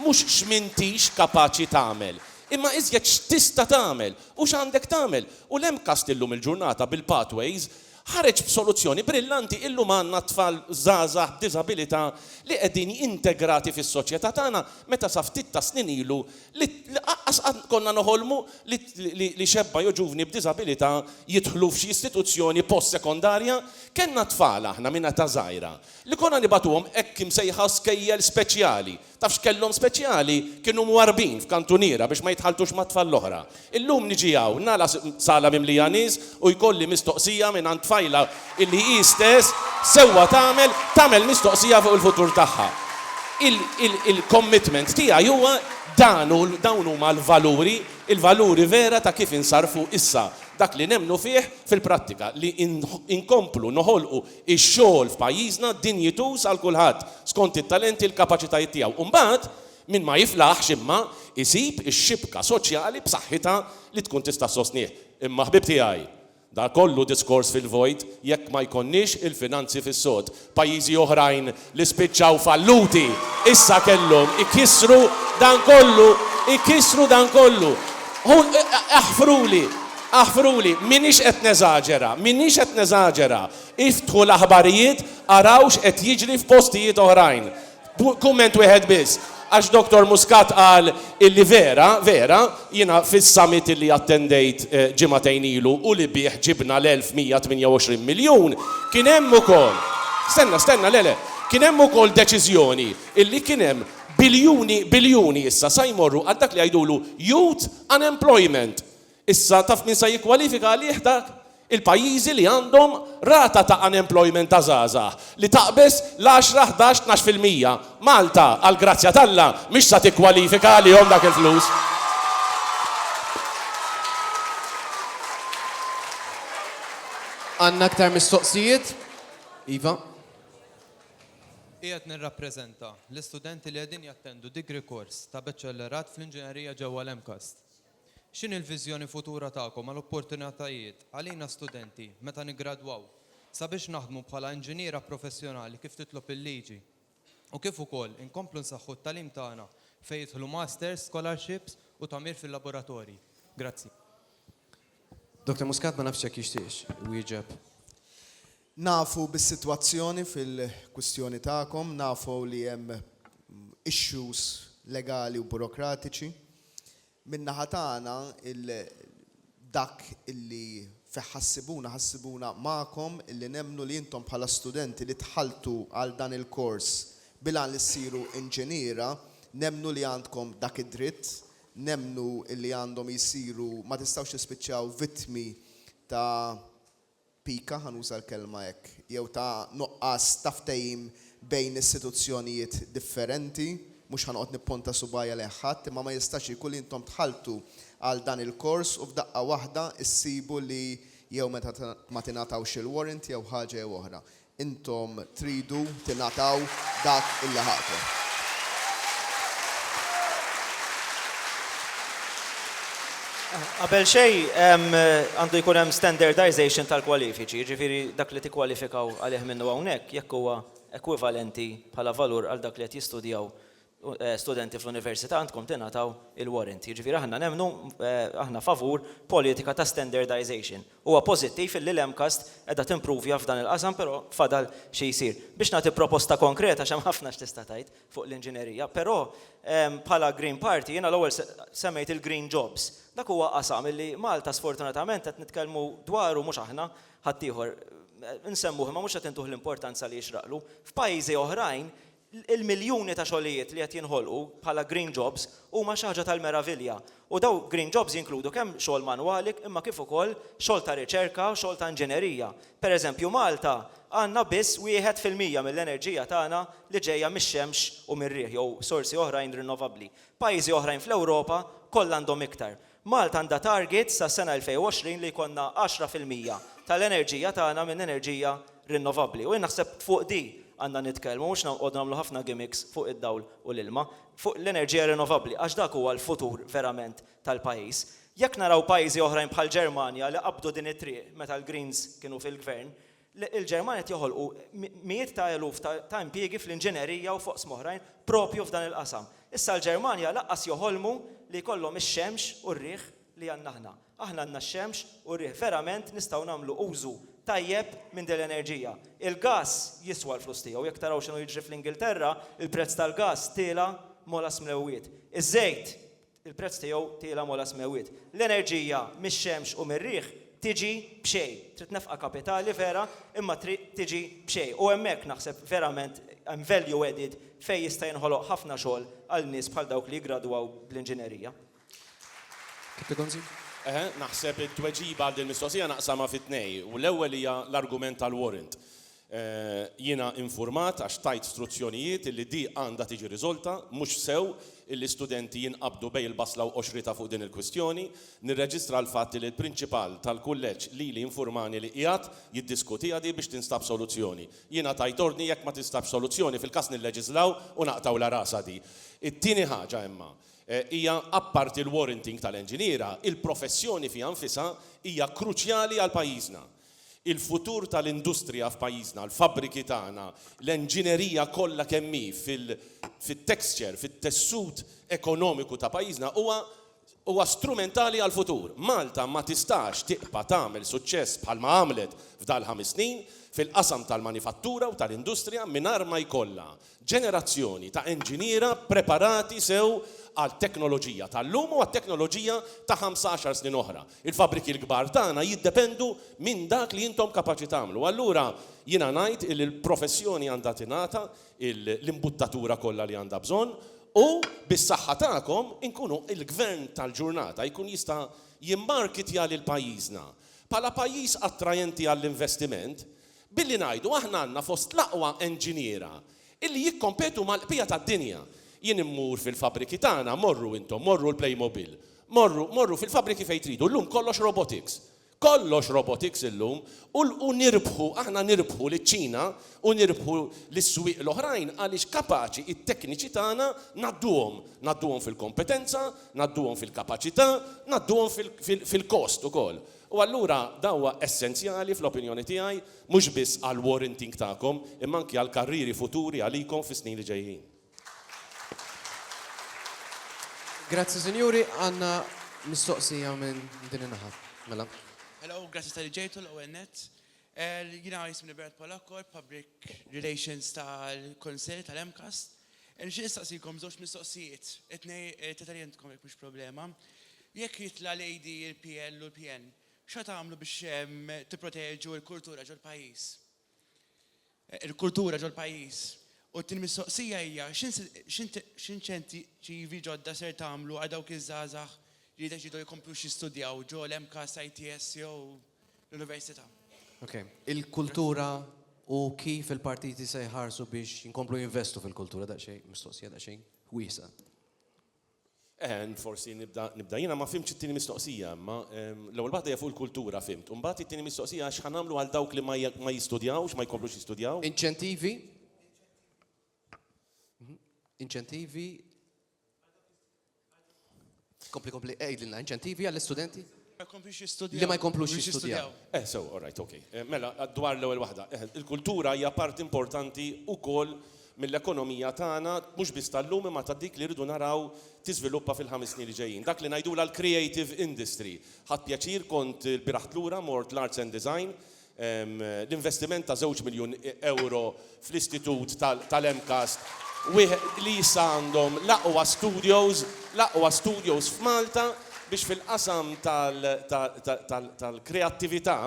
mhux x'm'intix kapaċi tagħmel, imma iżjed x'tista' tagħmel. U x'għandek tagħmel? U l-MCAST illum il-ġurnata bil-Pathways ħareġ b'soluzzjoni brillanti, illum għandna tfal żgħażagħ b'diżabilità li qegħdin integrati fis-soċjetà tagħna meta sa ftit tas-snin ilu li aqqas qatt konna noħolmu li xebba jew ġuvni b'diżabilità jidħlu f'xi istituzzjoni post-sekondarja. Kellna tfal aħna minn età żgħira li konna nibagħtuhom hekk imsejħa skejjel speċjali. Taf x'kellhom speċjali? Kienu mwarrbin f'kantuniera biex ma jitħalltux mat-tfal l-oħra. Illum niġi hawn, nagħlaq sala mimlija nies u jkolli mistoqsija mingħand tfajla illi hi stess sewwa tagħmel tagħmel mistoqsija fuq il-futur tagħha. Il-commitment tiegħi huwa dan u dawn huma l-valuri, il-valuri vera ta' kif insarrfu issa dak li nemmnu fih fil-prattika, li inkomplu noħolqu Ix-xogħol f'pajjiżna dinjituż għal kulħadd, skont it-talenti l-kapaċitajiet tiegħu. U mbagħad, min ma jiflaħx imma, isib ix-xibka soċjali b'saħħitha li tkun tista' ssostnih. Imma ħbieb tiegħi, dan kollu diskors fil-vojt jekk ma jkollniex il-finanzi fis-sod. Pajjiżi oħrajn li spiċċaw falluti, issa kellhom ikissru dan kollu, ikissru dan kollu. Hu, aħfruli, aħfruli, m'iniex qed neżaġera, m'iniex qed neżaġera. Iftħu l-aħbarijiet, araw x'qed jiġri f'postijiet oħrajn. Kumment wieħed biss, Għax Dottor Muscat qal illi vera, vera, jiena fis-summit illi attendejt ġimagħtejn ilu u li bih ġibna l-1128 miljun, kien hemm ukoll, stenna, stenna, le, le, kien hemm ukoll deċiżjoni illi kien hemm biljuni, biljuni issa sa jmorru għal dak li jgħidulu youth unemployment. Issa, taf min sa jikkwalifika għalih dak? Il-pajjiżi li għandhom rata ta' unemployment ta' żgħażagħ li taqbeż l-għaxra, ħdax, tnax fil-mija. Malta, għall-grazzja t'Alla, mhix sa tikkwalifika għalihom dak il-flus. Għandna aktar mistoqsijiet? Iva. Qiegħed nirrappreżenta l-istudenti li qegħdin jattendu degree course ta' baċellerat fl-inġinerija ġewwa l-MCAST. X'inhi l-viżjoni futura tagħkom għal opportunitajiet għalina studenti meta niggradwaw sabiex naħdmu bħala inġiniera professjonali kif titlob il-liġi u kif ukoll inkomplu nsaħħu t-tagħlim tagħna fejn jidħlu masters, scholarships u tagħmir fil-laboratorji? Grazzi. Doctor Muscat ma nafx jekk jixtieqx iwieġeb. Nafu bis-sitwazzjoni fil-kwistjoni tagħkom, nafu li hemm issues legali u burokratiċi. Min-naħa tagħna dak li fih ħassibuna, ħassibuna magħkom li nemmnu li intom bħala studenti li dħaltu għal dan il-kors bil-għan li ssiru inġiniera, nemmnu li għandkom dak id-dritt, nemmnu li għandhom isiru, ma tistgħux tispiċċaw vittmi ta' pika, ħa nuża l-kelma hekk, jew ta' nuqqas ta' ftehim bejn istituzzjonijiet differenti, mhux ħa noqgħod nipponta subgħajja lejn ħadd, imma ma jistax ikun li intom dħaltu għal dan il-kors u f'daqqa waħda issibu li jew ma tingħatawx il-warrant jew ħaġa jew oħra. Intom tridu tingħataw dak li laħaqtu. Qabel xejn, għandu jkun hemm standardisation tal-kwalifiċi, jiġifieri dak li tikkwalifikaw għalih minnu hawnhekk jekk huwa ekwivalenti bħala valur għal dak li qed jistudjaw studenti fl-università għandkom tingħataw il-warrant. Jiġifieri aħna nemmnu, aħna favur politika ta' standardization. Huwa pożittiv illi l-MCAST qiegħda timprovja f'dan il-qasam però fadal xi jsir. Biex nagħti proposta konkreta għax hemm ħafna x'tista' tgħid fuq l-inġinerija, però bħala Green Party jiena l-ewwel semmejt il-green jobs. Dak huwa qasam illi Malta sfortunatament qed nitkellmu dwaru, mhux aħna, ħaddieħor, insemmuh imma mhux qed intuh l-importanza li jixraqlu. F'pajjiżi oħrajn Il-miljuni ta' xogħlijiet li qed jinħolqu bħala green jobs huma xi ħaġa tal-meravilja u daw green jobs jinkludu kemm xogħol manwali imma kif ukoll xogħol ta' riċerka, xogħol ta' inġinerija. Per eżempju Malta għandna biss wieħed fil-mija mill-enerġija tagħna li ġejja mix-xemx u mir-riħ jew sorsi oħrajn rinnovabbli. Pajjiżi oħrajn fl-Ewropa kollha għandhom iktar. Malta għandha target sas-sena 2020 li jkollna 10 fil-mija tal-enerġija tagħna minn enerġija rinnovabbli u jien naħseb fuq di għandna nitkellmu mhux nqogħdu nagħmlu ħafna gimmicks fuq id-dawl u l-ilma, fuq l-enerġija rinnovabbli għax dak huwa l-futur verament tal-pajjiż. Jekk naraw pajjiżi oħrajn bħall-Ġermanja li qabdu din it-triq meta l-Greens kienu fil-Gvern, l-Ġermanja qed joħolqu mijiet ta' eluf ta' impjiegi fl-inġinerija u f'oqsma oħrajn proprju f'dan il-qasam. Issa l-Ġermanja lanqas joħolmu li jkollhom ix-xemx u r-riħ li għandna aħna. Aħna għandna x-xemx u r-riħ. Verament nistgħu nagħmlu użu tajjeb minn din l-enerġija. Il-gass jiswa l-flus tiegħu. Jekk taraw x'inhu jiġri fl-Ingilterra, il-prezz tal-gass tiela' molas mlewwiet. Iż-żejt Il-prezz tiegħu tiela' m'ogħla smewwiet. L-enerġija mix-xemx u mir-riħ tiġi b'xejn. Trid nefqa kapitali vera imma trid tiġi b'xejn. U hemmhekk naħseb verament hemm value added fejn jista' jinħoloq ħafna xogħol għal nies bħal dawk li jiggradwaw bl-inġinerija. Eħe, naħseb it-tweġiba għal din il-mistoqsija naqsamha fi tnejn u l-ewwel hija l-argument tal-warrant. Jiena infurmat għax tajt struzzjonijiet illi di għandha tiġi riżolta, mhux sew illi studenti jinqabdu bejn il-basla u qoxritha fuq din il-kwistjoni. Nirreġistra l-fatt illi l-Prinċipal tal-Kulleġġ lili infurmani li qiegħed jiddiskutiha di biex tinstab soluzzjoni. Jiena tajt ordni jekk ma tinstabx soluzzjoni fil-każ nilleġislaw u naqtgħulha rasha di. It-tieni ħaġa imma hija apparti l-warranting tal-enġiniera, il-professjoni fiha nfisha hija kruċjali għal pajjiżna. Il-futur tal-industrija f'pajjiżna, l-fabbriki tagħna, l-enġinerija kollha kemm hi fit-texture, fit-tessut ekonomiku ta' pajjiżna huwa huwa strumentali għall-futur. Malta ma tistax tibqa' tagħmel suċċess bħalma għamlet f'dal-ħames snin fil-qasam tal-manifattura u tal-industrija mingħajr ma jkollha ġenerazzjoni ta' enġiniera ppreparati sew għat-teknoloġija tal-lum u għat-teknoloġija ta' ħamsa għaxar snin oħra. Il-fabbriki l-kbar tagħna jiddependu minn dak li intom kapaċi tagħmlu. Allura jiena ngħid illi l-professjoni għandha tingħata l-imbuttatura kollha li għandha bżonn u bis-saħħa tagħkom inkunu il-Gvern tal-ġurnata jkun jista' jimmarkitja lil pajjiżna bħala pajjiż attrajenti għall-investiment billi ngħidu aħna għandna fost l-aqwa enġiniera illi jikkompetu mal-qbija tad-dinja. Jien immur fil-fabbriki tagħna, morru intom, morru l-Playmobil, morru, morru fil-fabbriki fejn tridu, llum kollox robotics. Kollox robotics illum u l u nirbħu, aħna nirbħu liċ-Ċina u nirbħu lis-swieq l-oħrajn għaliex kapaċi t-tekniċi tagħna ngħadduhom, ngħadduhom fil-kompetenza, ngħadduhom fil-kapaċità, ngħadduhom fil-cost ukoll. U allura dan huwa essenzjali fl-opinjoni tiegħi mhux biss għall-warranting tagħkom imma anki għall-karrieri futuri għalikom fis-snin li ġejjin. Grazzi sinjuri, għandna mistoqsija minn din in-naħa. Mela. Hello, grazzi tal-li ġejtu l-ewwel nett. Jiena jismi Bernard Polakkor, Public Relations tal-Kunsill tal-MCAST. Nixtieq nistaqsikom żewġ mistoqsijiet, it-tnej tlieta li intkom jekk mhux problema. Jekk jitla' l-AD, il-PL u l-PN, x'ħa tagħmlu biex tipproteġu l-kultura ġol-pajjiż? il-kultura ġol-pajjiż, u t-tieni mistoqsija hija x'inċentivi ġodda ser tagħmlu għal dawk iż-żgħażagħ li jiddeċiedu jkomplux jistudjaw ġo l-MCAST, ITS jew l-Università? Ok. Il-kultura u kif il-partiti se jħarsu biex jinkomplu jinvestu fil-kultura, daqsxejn, mistoqsija daqsxejn wiesgħa. And forsi nibda nibda jiena ma fhimtx it-tieni mistoqsija imma l-ewwel waħda hija fuq il-kultura fhimt u mbagħad it-tieni mistoqsija hija x'ħa nagħmlu għal dawk li ma ma jistudjawx ma jkomplux jistudjaw? Inċentivi Inċentivi Kompli kompli għidilna inċentivi għall-istudenti? Ma jkomplux jistudjaw. Li ma jkomplux jistudjaw. Eh, sew, all right, okej. Eh, mela, dwar l-ewwel waħda, eh, il-kultura hija parti importanti wkoll mill-ekonomija tagħna mhux biss tal-lum imma ta' dik li rridu naraw tiżviluppa fil-ħames snin li ġejjin. Dak li ngħidula l-creative industry. Ħadd pjaċir kont il-biraħt lura mort l-arts and design L-investiment ta' żewġ miljun ewro fl-Istitut tal-MCAST li issa għandhom l-aqwa studios, l-aqwa studios f'Malta biex fil-qasam tal-kreattività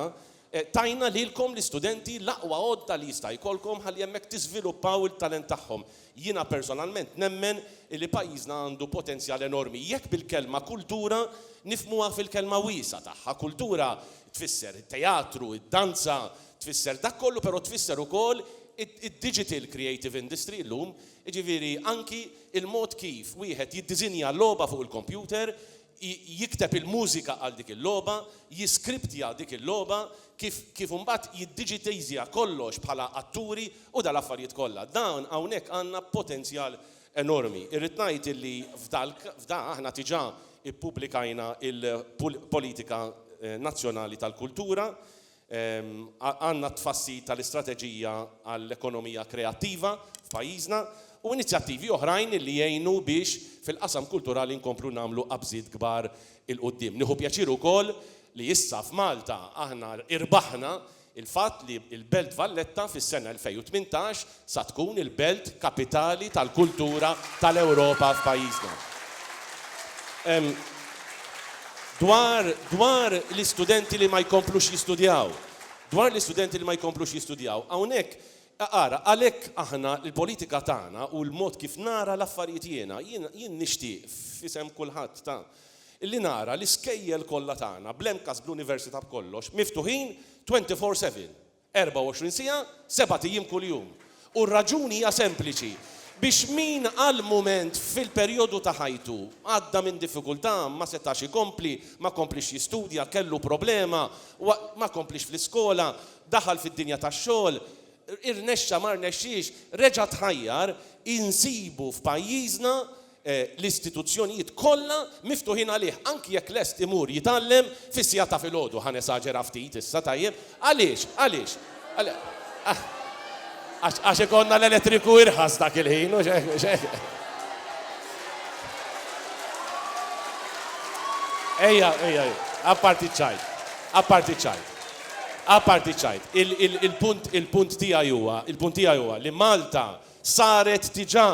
tajna lilkom l-istudenti l-aqwa għodda li jista' jkollkom ħalli hemmhekk tiżviluppaw il-talent tagħhom. Jiena personalment nemmen illi pajjiżna għandu potenzjal enormi jekk bil-kelma kultura nifhmuha fil-kelma wiesgħa tagħha. Kultura tfisser it-teatru, id-danza, tfisser dak kollu però tfisser ukoll id-digital creative industry llum, jiġifieri anki l-mod kif wieħed jiddiżinja logħba fuq il-kompjuter jikteb il-mużika għal dik il-logħba, jiskriptja dik il-logħba, kif kif imbagħad jiddiġitejżja kollox bħala atturi u dal-affarijiet kollha. Dan hawnhekk għandna potenzjal enormi. Irrid ngħid illi f'dal f'da aħna diġà ppubblikajna l-Politika Nazzjonali tal-Kultura Għandna t-tfassil tal-istrateġija għall-ekonomija kreattiva f'pajjiżna u inizjattivi oħrajn li jgħinu biex fil-qasam kulturali nkomplu nagħmlu qabżiet kbar 'il quddiem. Nieħu pjaċir ukoll li issa f'Malta aħna irbaħna l-fatt li l-Belt Valletta fis-sena 2018 sa tkun il-belt kapitali tal-kultura tal-Ewropa f'pajjiżna. Ehm, dwar, dwar l-istudenti li ma jkomplux jistudjaw, dwar l-istudenti li ma jkomplux jistudjaw, hawnhekk, ara, għalhekk aħna l-politika tagħna u l-mod kif nara l-affarijiet jiena, jien, jien nixtieq, f'isem kulħadd ta', li nara l-iskejjel kollha tagħna, bl-MCAST, bl-Università, b'kollox, miftuħin twenty four seven. 24 siegħa, sebat ijiem kuljum. U r-raġuni hija sempliċi, biex min għal mument fil-perjodu ta' ħajtu għadda minn diffikultà, ma setax ikompli, ma kompliex jistudja, kellu problema, ma kompliex fl-iskola, daħal fid-dinja tax-xogħol, irnexxa ma rnexxiex, reġa' tħajjar, insibu f'pajjiżna l-istituzzjonijiet kollha miftuħin għalih, anki jekk lest imur jitgħallem fis-siegħat ta' filgħodu. Ħa nesaġera ftit issa, tajjeb? Għaliex? Għaliex? Għax għax ikollna l-elettriku irħas dak il-ħin, mhux hekk, mhux hekk? Ejja, ejja, apparti ċ-ċajt, apparti ċ-ċajt. Apparti ċ-ċajt, il-punt il-punt tiegħi huwa, il-punt tiegħi huwa li Malta saret diġà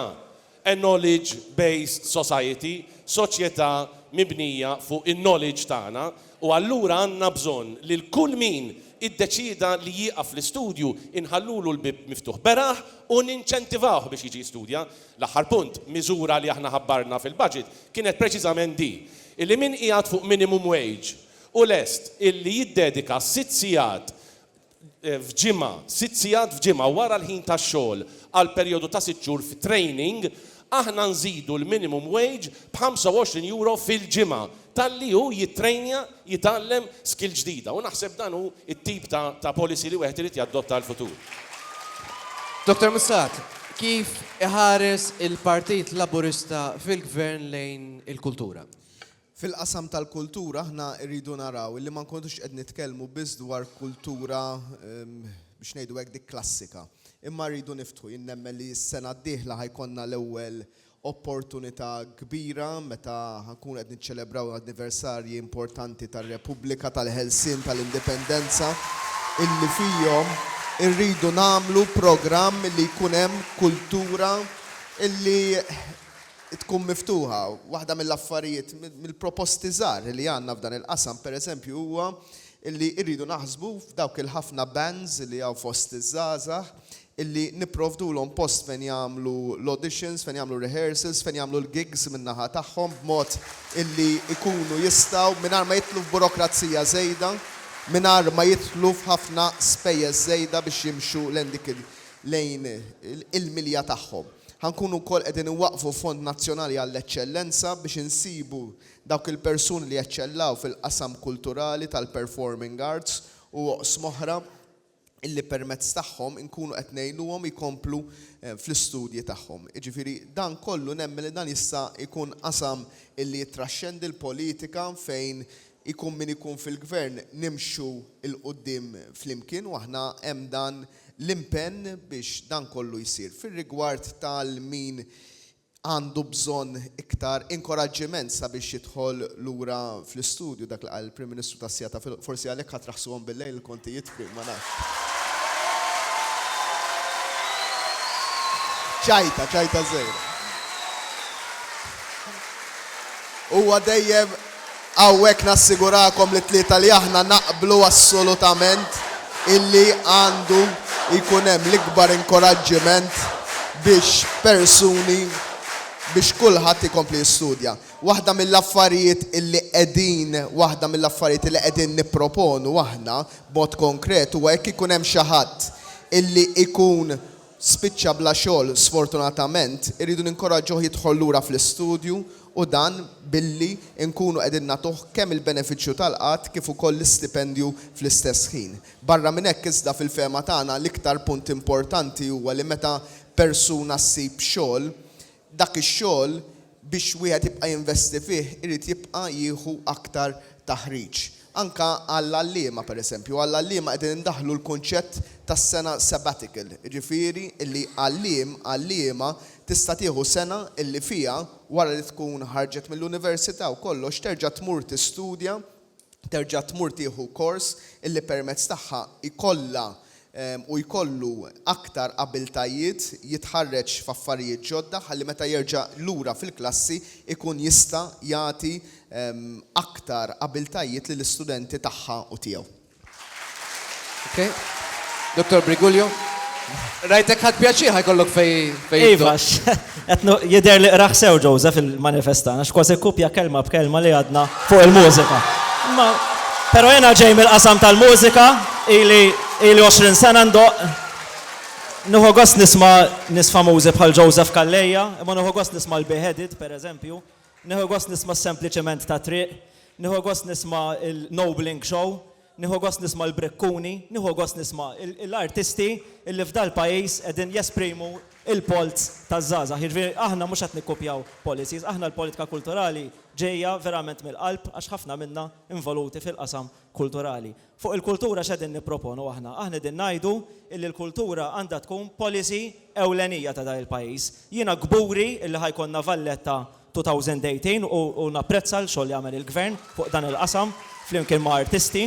A knowledge based society, soċjetà mibnija fuq in-knowledge tagħna, u allura għandna bżonn lil kull min iddeċieda li jieqaf l-istudju inħallulu l-bieb miftuħ beraħ u ninċentivawh biex jiġi jistudja. L-aħħar punt, miżura li aħna ħabbarna fil-budget kienet preċiżament di, illi min qiegħed fuq minimum wage u lest illi jiddedika sitt sigħat f'ġimgħa, sitt sigħat f'ġimgħa wara l-ħin tax-xogħol għal perjodu ta' sitt xhur fi training, aħna nżidu l-minimum wage b'25 € fil-ġimgħa talli hu jittrejnja, jitgħallem skill ġdida. U naħseb dan hu t-tip ta' policy li wieħed irid jadotta għall-futur. Dottor Muscat, kif iħares il-Partit Laburista fil-Gvern lejn il-kultura? Fil-qasam tal-kultura aħna rridu naraw illi ma nkunux qed nitkellmu biss dwar kultura biex ngħidu hekk dik klassika. Imma rridu niftħu, jien nemmen li s-sena d-dieħla ħa jkollna l-ewwel opportunità kbira meta ħa nkunu qed niċċelebraw anniversarji importanti tar-Repubblika, tal-ħelsien, tal-Indipendenza, illi fihom irridu nagħmlu programm li jkun hemm kultura illi tkun miftuħa. Waħda mill-affarijiet, mill-proposti żgħar li għandna f'dan il-qasam, pereżempju, huwa li rridu naħsbu f'dawk il-ħafna bands li hawn fost iż-żgħażagħ illi nipprovdulhom post fejn jagħmlu l-auditions, fejn jagħmlu r-rehearsals, fejn jagħmlu l-gigs min-naħa tagħhom b'mod illi jkunu jistgħu, mingħajr ma jidħlu f'burokrazija żejda, mingħajr ma jidħlu f'ħafna spejjeż żejda biex jimxu lejn dik il-, lejn il-milja tagħhom. Ħa nkunu wkoll qegħdin inwaqqfu Fond Nazzjonali għall-Eċċellenza biex insibu dawk il-persuni li jeċċellaw fil-qasam kulturali, tal-performing arts u oqsma oħra illi permezz tagħhom inkunu qed ngħinuhom jkomplu fl-istudji tagħhom. Jiġifieri dan kollu nemmen li dan jista' jkun qasam illi jittraxxendi l-politika fejn ikun min ikun fil-Gvern nimxu 'l quddiem flimkien u aħna hemm dan l-impenn biex dan kollu jsir fir-rigward ta' min għandu bżonn iktar inkoraġġiment sabiex jidħol lura fl-istudju, dak li qal il-Prim Ministru tas-sigħat ta' forsi għalhekk ħa traħsuhom bil-lejl il-kontijiet f'Krim ma nafx. Ċajta, ċajta żgħira. Huwa dejjem Hawnhekk nassigurakom li t-tlieta li aħna naqblu assolutament illi għandu jkun hemm l-ikbar inkoraġġiment biex persuni, biex kulħadd ikompli jistudja. Waħda mill-affarijiet illi qegħdin, waħda mill-affarijiet illi qegħdin nipproponu aħna b'mod konkret huwa jekk ikun hemm xi ħadd illi jkun spiċċa bla xogħol sfortunatament irridu ninkoraġġuh jidħol lura fl-istudju u dan billi nkunu qegħdin nagħtuh kemm il-benefiċċju tal-qgħad kif ukoll l-istipendju fl-istess ħin. Barra minn hekk iżda fil-fehma tagħna l-iktar punt importanti huwa li meta persuna ssib xogħol Dak ix-xogħol biex wieħed jibqa' jinvesti fih irid jibqa' jieħu aktar taħriġ. Anke għall-għalliema pereżempju, għall-għalliema qegħdin indaħħlu l-kunċett tas-sena sabbatical, jiġifieri li għalliem, għalliema tista' tieħu sena li fiha wara li tkun ħarġet mill-università u kollox terġa' tmur tistudja terġa' tmur tieħu kors illi permezz tagħha jkollha u jkollu aktar abiltajiet jitħarreġ f'affarijiet ġodda ħalli meta jerġa' lura fil-klassi jkun jista' jagħti aktar abiltajiet lill-istudenti tagħha u tiegħu. Dottor Briguglio, rajtek ħadt pjaċir ħa jkollok fejn. Iva, jidher li qrah sew Joseph il-manifest tagħna, x'kważi kopja kelma b'kelma li għadna fuq il-mużika. Però jiena ġej mill-qasam tal-mużika, ili 20 sena ndoqq. Nieħu gost nisma' nies famużi bħal Joseph Calleja, imma nieħu gost nisma' l-Beheaded, pereżempju, Nieħu gost nisma' s-sempli ċiment tat-triq, nieħu gost nisma' l-nobling show, nieħu gost nisma' l-brikkuni, nieħu gost nisma' l-artisti li f'dal-pajjiż qegħdin jesprimu l-polz taż-żgħażagħ. Jiġifieri aħna mhux qed nikkupjaw policies, aħna l-politika kulturali ġejja verament mill-qalb għax ħafna minna involuti fil-qasam kulturali. Fuq il-kultura x'qegħdin nipproponu aħna? Aħna qegħdin ngħidu illi l-kultura għandha tkun policy ewlenija ta' dan il-pajjiż. Jiena kburi illi ħa jkollna Valletta 2018 u napprezza l-xogħol li għamel il-Gvern fuq dan il-qasam flimkien ma' artisti.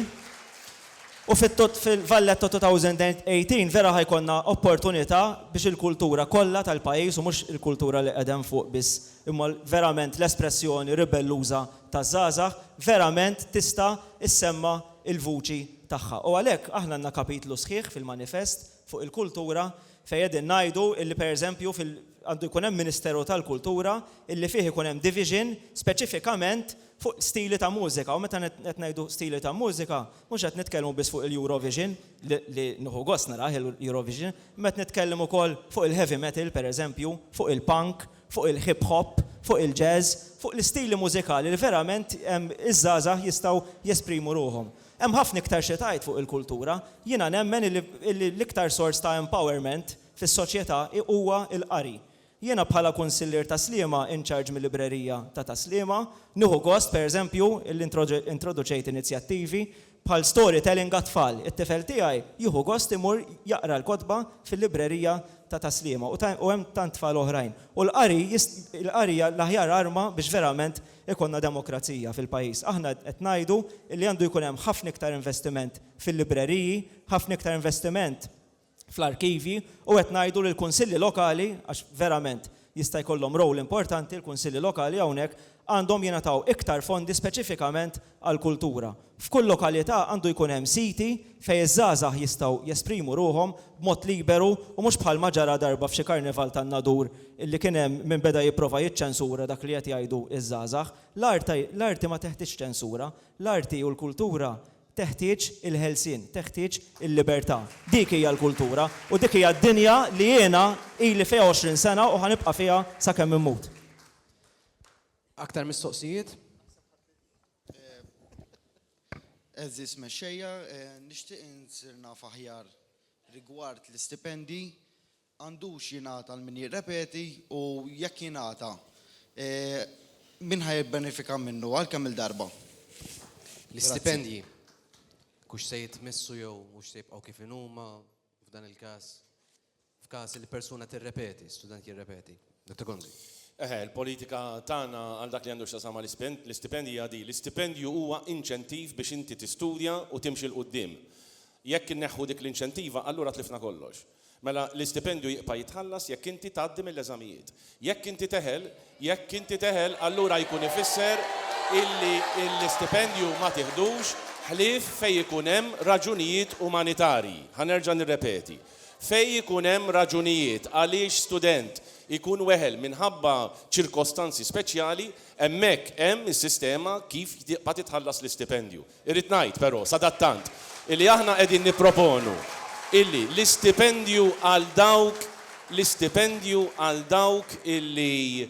U fil-Valletta 2018 vera ħa jkollna opportunità biex il-kultura kollha tal-pajjiż u mhux il-kultura li qegħda hemm fuq biss imma verament l-espressjoni ribelluża taż-żgħażagħ verament tista' ssemma' l-vuċi tagħha. U għalhekk aħna għandna kapitlu sħiħ fil-manifest fuq il-kultura fejn qegħdin ngħidu li pereżempju fil għandu jkun hemm ministeru tal-kultura illi fih ikun hemm division speċifikament fuq stili ta' mużika u meta qed ngħidu stili ta' mużika mhux qed nitkellmu biss fuq il-Eurovision li nieħu gost narah il-Eurovision imma qed nitkellem ukoll fuq il-heavy metal pereżempju fuq il-punk fuq il-hip hop, fuq il-jazz, fuq l-istili mużikali li verament iż-żgħażagħ jistgħu jesprimu ruħhom. Hemm ħafna iktar xi tgħid fuq il-kultura. Jiena nemmen illi l-iktar sors ta' empowerment fis-soċjetà huwa l-qari. Jiena bħala Kunsillier ta' Sliema in charge mil-Librerija ta' ta' Sliema, nieħu gost, per eżempju, illi introduċejt inizjattivi Bħal storytelling għat-tfal, it-tifel tiegħi jieħu gost imur jaqra l-kotba fil-librerija ta' Ta' Sliema u hemm tant tfal oħrajn. U l-qari l-qari hija l-aħjar arma biex verament ikollna demokrazija fil-pajjiż. Aħna qed ngħidu li għandu jkun hemm ħafna iktar investiment fil-libreriji, ħafna iktar investiment fl-arkivji u qed ngħidu li l-kunsilli lokali, għax verament jista' jkollhom role importanti l-kunsilli lokali hawnhekk, għandhom jingħataw iktar fondi speċifikament għall-kultura. F'kull lokalità għandu jkun hemm siti fejn iż-żgħażagħ jistgħu jesprimu ruħhom b'mod liberu u mhux bħalma ġara darba f'xi karnival tan-Nadur li kien hemm min beda jipprova jiċċensura dak li qed jgħidu ż-żgħażagħ. L-arti ma teħtieġx ċensura. L-arti u l-kultura Teħtieġ il-ħelsien, teħtieġ il-libertà. Dik hija l-kultura u dik hija d-dinja li jiena ili fiha għoxrin sena u ħa nibqa' fiha sakemm immut. Aktar mistoqsijiet? Għeżież Mexxejja, nixtieq insir naf aħjar rigward l-istipendji. Għandux jingħata għal min jirrepeti u jekk jingħata, min ħa jibbenefika minnu? Għal kemm-il darba? L-istipendji, hux se jitmissu jew hux se jibqgħu kif inhuma f'dan il-każ, f'każ li persuna tirrepeti, student jirrepeti? Eħe, il-politika tagħna għal dak li għandu x'jaqsam mal-istipendji hija din, l-istipendju huwa inċentiv biex inti tistudja u timxi 'l quddiem. Jekk inneħħu dik l-inċentiva, allura tlifna kollox. Mela, l-istipendju jibqa' jitħallas jekk inti tgħaddi mill-eżamijiet. Jekk inti teħel, jekk inti teħel, allura jkun ifisser illi l-istipendju ma tiħdux ħlief fejn ikun hemm raġunijiet umanitarji. Ħa nerġa' nirrepeti. Fejn ikun hemm raġunijiet għaliex student ikun weħel minħabba ċirkostanzi speċjali, hemmhekk hemm is-sistema kif tibqa' titħallas l-istipendju. Irrid ngħid, però, sadattant, illi aħna qegħdin nipproponu illi l-istipendju għal dawk l-istipendju għal dawk illi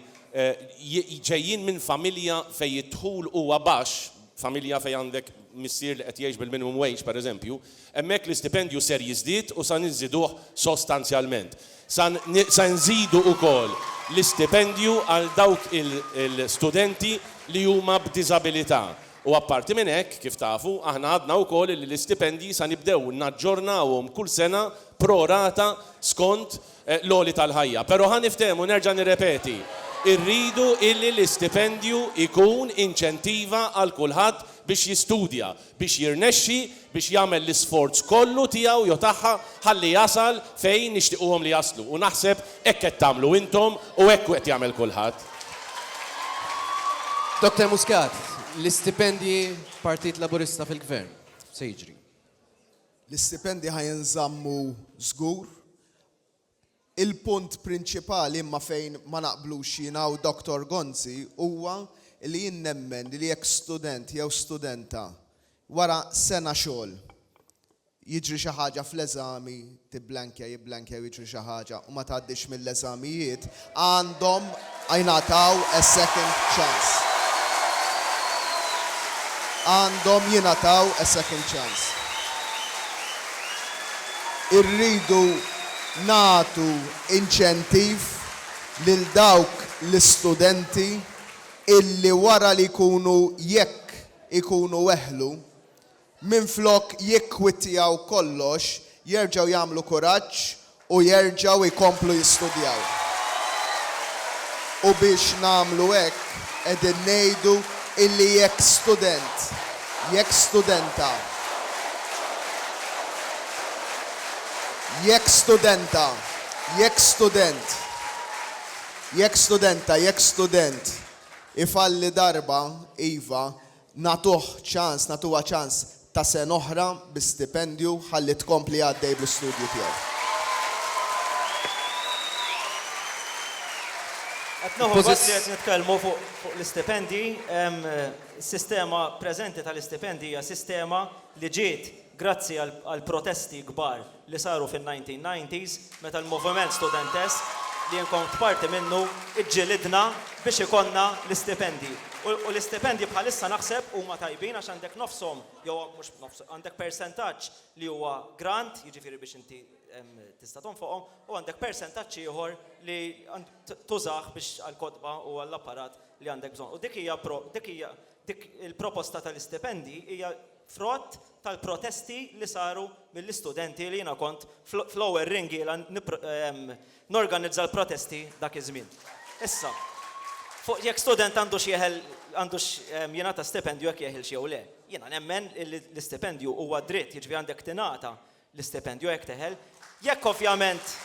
ġejjin minn familja fejn id-dħul huwa baxx, familja fejn għandek missier li qed jgħix bil-minimum wage, pereżempju, Hemmhekk l-istipendju ser jiżdied u sa nżiduh sostanzjalment. Sa se nżidu ukoll l-istipendju għal dawk il-studenti li huma b'diżabilità. U apparti minn hekk, kif tafu, aħna għadna wkoll li l-istipendji sa nibdew naġġornawhom kull sena pro rata skont l-għoli tal-ħajja. Però ħa niftehmu, nerġa' nirrepeti, irridu illi l-istipendju jkun inċentiva għal kulħadd biex jistudja. biex jirnexxi biex jagħmel l-isforz kollu tiegħu jew tagħha ħalli jasal fejn nixtiquhom li jaslu u naħseb hekk qed tagħmlu intom u hekk qed jagħmel kulħadd. Doctor Muscat, l-istipendji Partit Laburista fil-Gvern, x'se jiġri? L-istipendji ħa jinżammu żgur. Il-punt prinċipali imma fejn ma naqblux jiena u Dottor Gonzi huwa li jien nemmen li jekk student jew studenta wara sena xogħol jiġri xi ħaġa fl-eżami, tibblankja, jibblankja jew jiġri xi ħaġa u ma tgħaddix mill-eżamijiet, Għandhom jingħataw a second chance. Għandhom jingħataw a second chance. Irridu nagħtu inċentiv lil dawk l-istudenti illi wara li jkunu jekk ikunu weħlu Minflok jikkwittjaw kollox, jerġgħu jagħmlu kuraġġ u jerġgħu jkomplu jistudjaw. U biex nagħmlu hekk, qegħdin ngħidu illi jekk student, jekk studenta, jekk studenta, jekk student, jekk studenta, jekk student ifalli darba, iva, Nagħtuh ċans, nagħtuha ċans ta' sena oħra bi stipendju ħalli tkompli għaddej bl-istudju tiegħi. Qed nieħu gost li qed nitkellmu fuq l-istipendji. Is-sistema preżenti tal-istipendji hija sistema li ġiet grazzi għall-protesti kbar li saru fin-1990s meta l-moviment studentesk li jien kont parti minnu ġġilidna biex ikollna l-istipendji. U l-istipendji bħalissa naħseb huma tajbin għax għandek nofshom jew mhux nofshom, għandek persentaġġ li huwa grant, jiġifieri biex inti tista' tonfoqhom, u għandek persentaġġ ieħor li tużah biex għall-kotba u għall-apparat li għandek bżonn. U dik hija Dik il-proposta tal-istipendji hija frott tal-protesti li saru mill-istudenti li jiena kont fl-ewwel ringiela norganizza l-protesti dak iż-żmien. Issa, fuq jekk student għandux jeħel għandux jingħata stipendju jekk jeħilx jew le, jiena nemmen li l-istipendju huwa dritt, jiġifieri għandek tingħata l-istipendju jekk teħel, jekk ovvjament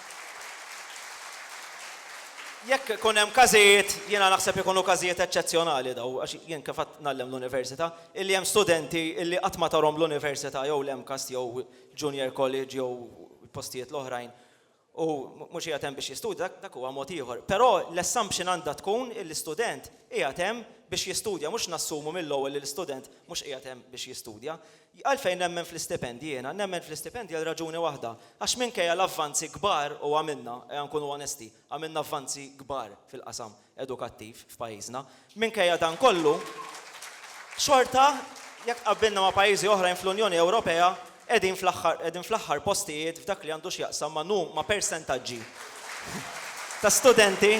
jekk ikun hemm każijiet, jiena naħseb ikunu każijiet eċċezzjonali dawn, għax jien kif għad ngħallem l-università, illi hemm studenti illi qatt ma tarhom l-università jew l-MCAST jew Junior College jew postijiet l-oħrajn u mhux qiegħed hemm biex jistudja, dak huwa mod ieħor. Però l-assumption għandha tkun illi student qiegħed hemm biex jistudja, mhux nassumu mill-ewwel li l-istudent mhux qiegħed hemm biex jistudja. Għalfejn nemmen fl-istipendji jiena? Nemmen fl-istipendji għal raġuni waħda, għax minkejja l-avvanzi kbar u għamilna, ejja nkunu onesti, għamilna avvanzi kbar fil-qasam, edukattiv f'pajjiżna. Minkejja dan kollu, xorta, jekk tqabbilna ma' pajjiżi oħrajn fl-Unjoni Ewropea, qegħdin fl-aħħar qegħdin fl-aħħar postijiet f'dak li għandu x'jaqsam ma' nu ma' persentaġġi ta' studenti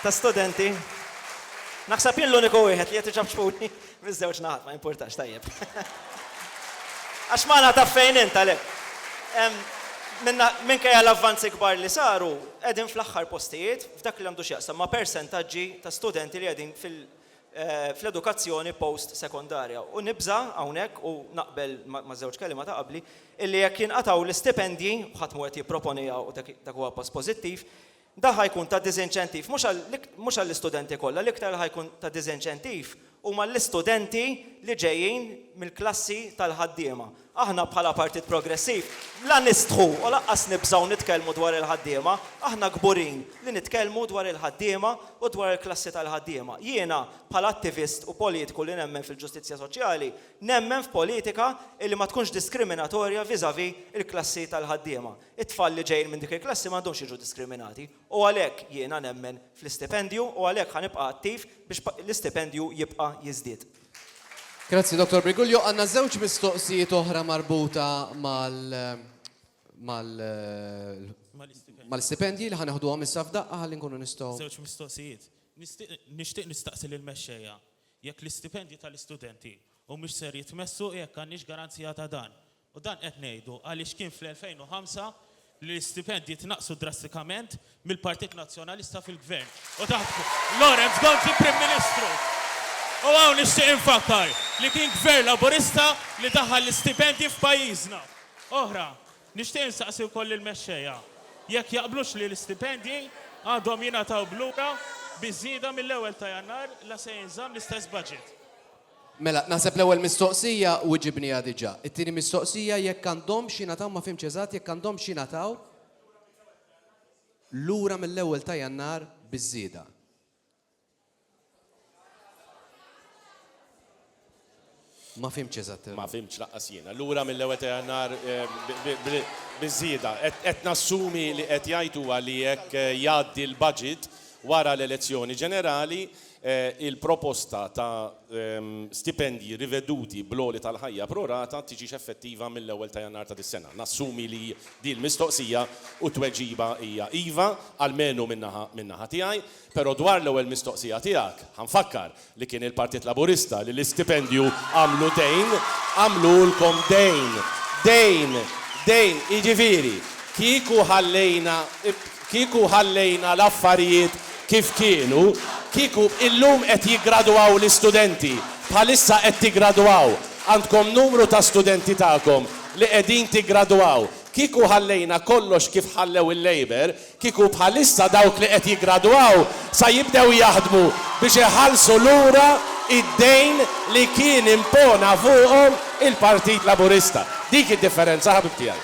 ta' studenti Naħseb jien l-uniku wieħed li qed iċapċpuni. Miż-żewġ naħat, ma jimpurtax, tajjeb. Għax Malta taf fejn int għalhekk. Minkejja l-avvanzi kbar li saru, qegħdin fl-aħħar postijiet f'dak li għandu x'jaqsam ma' persentaġġi ta' studenti li qegħdin fl-edukazzjoni post-sekondarja. U nibża' hawnhekk, u naqbel maż-żewġ kelliema ta' qabli, illi jekk jinqatgħu l-istipendji, ħadd mhu qed jipproponiha u dak huwa pass pożittiv, Dan ħa jkun ta' diżinċentiv mhux għall-istudenti kollha, l-iktar li ħa jkun ta' diżinċentiv huma għall-istudenti li ġejjin mill-klassi tal-ħaddiema. Aħna bħala Partit Progressiv la nistħu u lanqas nibżgħu nitkellmu dwar il-ħaddiema, aħna kburin li nitkellmu dwar il-ħaddiema u dwar il-klassi tal-ħaddiema. Jiena bħala attivist u politiku li nemmen fil-ġustizzja soċjali, nemmen f'politika li ma tkunx diskriminatorja vis-à-vis il-klassi tal-ħaddiema. It-tfal li ġejjin minn dik il-klassi m'għandhomx jiġu diskriminati u għalhekk jiena nemmen fl-istipendju u għalhekk ħa nibqa' attiv biex l-istipendju jibqa' jiżdied. Grazzi Dottor Briguglio. Għandna żewġ mistoqsijiet oħra marbuta mal mal mal-istipendji li ħa neħduhom issa f'daqqa ħalli nkunu nistgħu. Żewġ mistoqsijiet. Nixtieq nistaqsi lill-mexxejja jekk l-istipendji tal-istudenti humiex ser jitmessu u jekk għandniex garanzija ta' dan. U dan qed ngħidu għaliex kien fl-2005 li l-istipendji tnaqqsu drastikament mill-Partit Nazzjonalista fil-Gvern u taħt Lawrence Gonzi Prim Ministru. U hawn nixtieq infakkar li kien Gvern Laburista li daħħal l-istipendji f'pajjiżna. Oħra, nixtieq insaqsi wkoll lill-mexxejja jekk jaqblux li l-istipendji għandhom jingħataw b'lura bi żieda mill-ewwel ta' Jannar la se jinżamm l-istess budget. Mela, naħseb l-ewwel mistoqsija wiġibniha diġà. It-tieni mistoqsija jekk għandhomx jingħataw ma fhimtx eżatt jekk għandhomx jingħataw lura mill-ewwel ta' Jannar biż-żieda. Ma fhimtx eżatt. Ma fhimtx laqqas jiena. Lura mill-ewwel ta' Jannar biż-żieda. Qed nassumi li qed jgħid huwa li jekk jgħaddi l-budget wara l-elezzjoni ġenerali, Il-proposta ta' stipendji riveduti bl-għoli tal-ħajja pro rata tiġix effettiva mill-ewwel ta' Jannar ta' dis-sena. Nassumi li din l-mistoqsija u t-tweġiba hija iva, almenu min-naħa min-naħa tiegħi. Però dwar l-ewwel mistoqsija tiegħek, ħa nfakkar li kien il-Partit Laburista li l-istipendju għamlu dejn, għamlulkom dejn, dejn, dejn. Jiġifieri, kieku ħallejna. Kieku ħallejna l-affarijiet kif kienu, kieku illum qed jiggradwaw l-istudenti, bħalissa qed tiggradwaw, għandkom numru ta' studenti tagħkom li qegħdin tiggradwaw, kieku ħallejna kollox kif ħallew il-Labour, kieku bħalissa dawk li qed jiggradwaw sa jibdew jaħdmu biex iħallsu lura id-dejn li kien impona fuqhom il-Partit Laburista. Dik id-differenza ħabib tiegħi.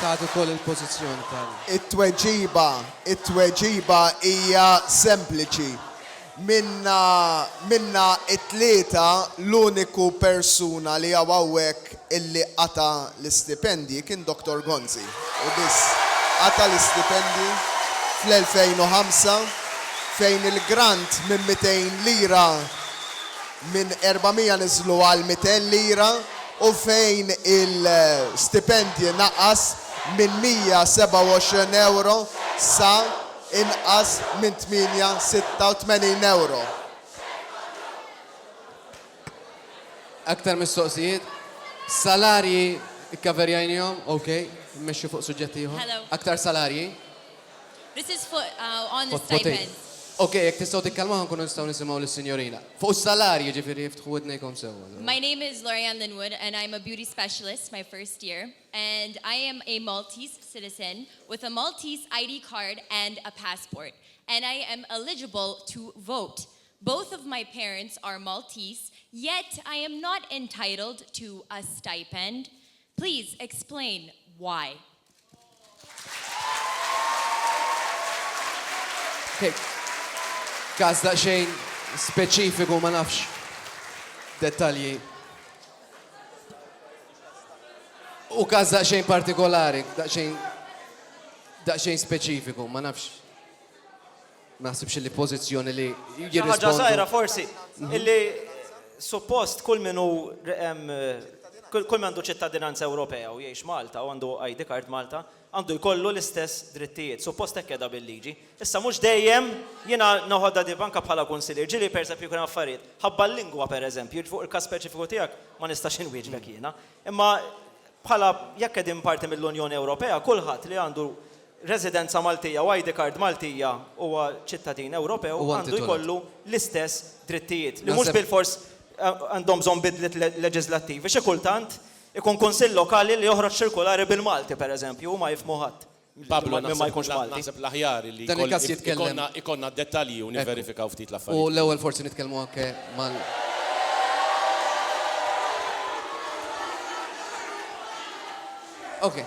Tagħti wkoll il-pożizzjoni tal. It-tweġiba, it-tweġiba hija sempliċi. Minna, minna t-tlieta l-uniku persuna li hawn hawnhekk illi qata' l-istipendji kien Dottor Gonzi, hu biss. Qata' l-istipendji fl-2005 fejn il-grant minn mitejn lira, minn 400 niżlu għal 200 lira u fejn il-stipendji naqas minn 127 ewro sa inqas minn 886 ewro. Aktar mistoqsijiet? Salarji kkaverjajnihom, ok. Immexxu fuq suġġett ieħor. Aktar salarji? This is for, uh, on the Fot potej. stipends. Okej, jekk tistgħu tikkalmaw ħa nkunu nistgħu nisimgħu lis-sinjorina. Fuq is-salarji, jiġifieri iftħu widnejkom sewwa. My name is Lorianne Linwood and I'm a beauty specialist my first year and I am a Maltese citizen with a Maltese ID card and a passport and I am eligible to vote. Both of my parents are Maltese yet I am not entitled to a stipend. Please explain why. Każ daqsxejn speċifiku ma nafx dettalji. U każ daqsxejn partikolari, daqsxejn daqsxejn speċifiku, ma nafx. Ma naħsibx illi pożizzjoni li jirrispondu. Xi ħaġa żgħira forsi illi suppost kull min hu kull min għandu ċittadinanza Ewropea u jgħix Malta u għandu ID card Malta għandu jkollu l-istess drittijiet. Suppost hekk qiegħda bil-liġi. Issa mhux dejjem jiena noħodha di anke bħala kunsillier ġieli pereżempju jkun hemm affarijiet ħabba l-lingwa pereżempju, jiġifieri fuq il-każ speċifiku tiegħek ma nistax inwieġbek jiena. Imma bħala jekk qegħdin parti mill-Unjoni Ewropea kulħadd li għandu residenza Maltija u ID card Maltija huwa ċittadin Ewropew għandu jkollu l-istess drittijiet, li mhux bilfors għandhom bżonn bidliet leġiżlattivi. Xi kultant ikun kunsill lokali li joħroġ ċirkulari bil-Malti, pereżempju, u ma jifhmu ħadd minn ma jkunx Malti. Naħseb l-aħjar li jkollna d-dettalji u nivverifikaw ftit l-affarijiet. U l-ewwel forsi nitkellmu anke mal. Okej.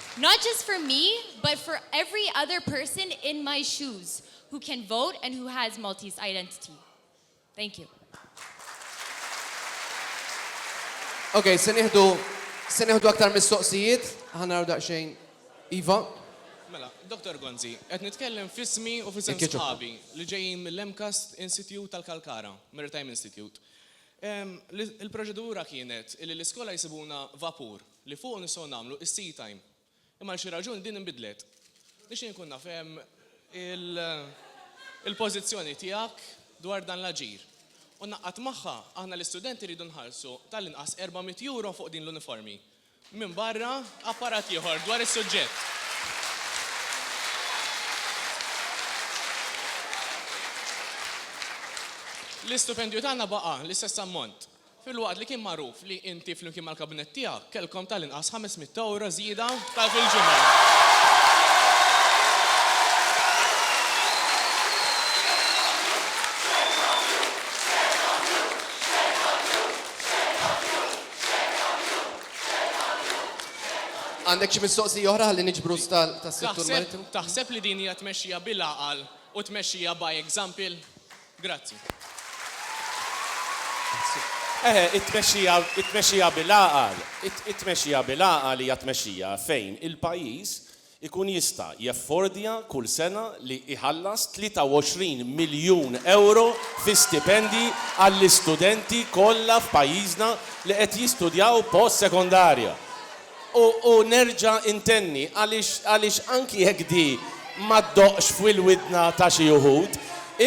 Not just for me but for every other person in my shoes who can vote and who has Maltese identity. Thank you. Ok, se nieħdu se nieħdu aktar mistoqsijiet, ħanaraw daqsxejn Iva. Mela, Dr. Gonzi, qed nitkellem f'ismi u f'isem sħabi li ġejjin mill-MCAST Institute tal-Kalkara, Maritime Institute. Il-proċedura kienet li l-iskola jsibuna vapur li fuqu nistgħu nagħmlu is-seat time. Imma għal xi raġuni din inbidlet. Nixtieq inkun naf ehm, il-pożizzjoni tiegħek dwar dan l-aġir. U ngħaqqad magħha, aħna l-istudenti rridu nħallsu tal-inqas 400 euro fuq din l-uniformi. Minbarra apparat ieħor dwar is-suġġett. L-istupendju tagħna baqa' l-istess ammont. filwaqt li kien magħruf li inti flimkien mal-Kabinett tiegħek kellkom tal-inqas 500 ewro żieda ta' fil-ġimgħa. Għandek xi mistoqsija oħra ħalli niġbru tas-settur marittimu? Taħseb li din hija tmexxija bil-għaqal u tmexxija by example? Grazzi. Eħe, it-tmexxija, it-tmexxija bil-għaqal, it-tmexxija bil-għaqal hija tmexxija fejn il-pajjiż ikun jista' jeffordja kull sena li jħallas 23 miljun ewro fi stipendji għall-istudenti kollha f'pajjiżna li qed jistudjaw post-sekondarja. U nerġa' intenni, għaliex anki jekk di ma ddoqqx f'wil-widna ta' xi uħud,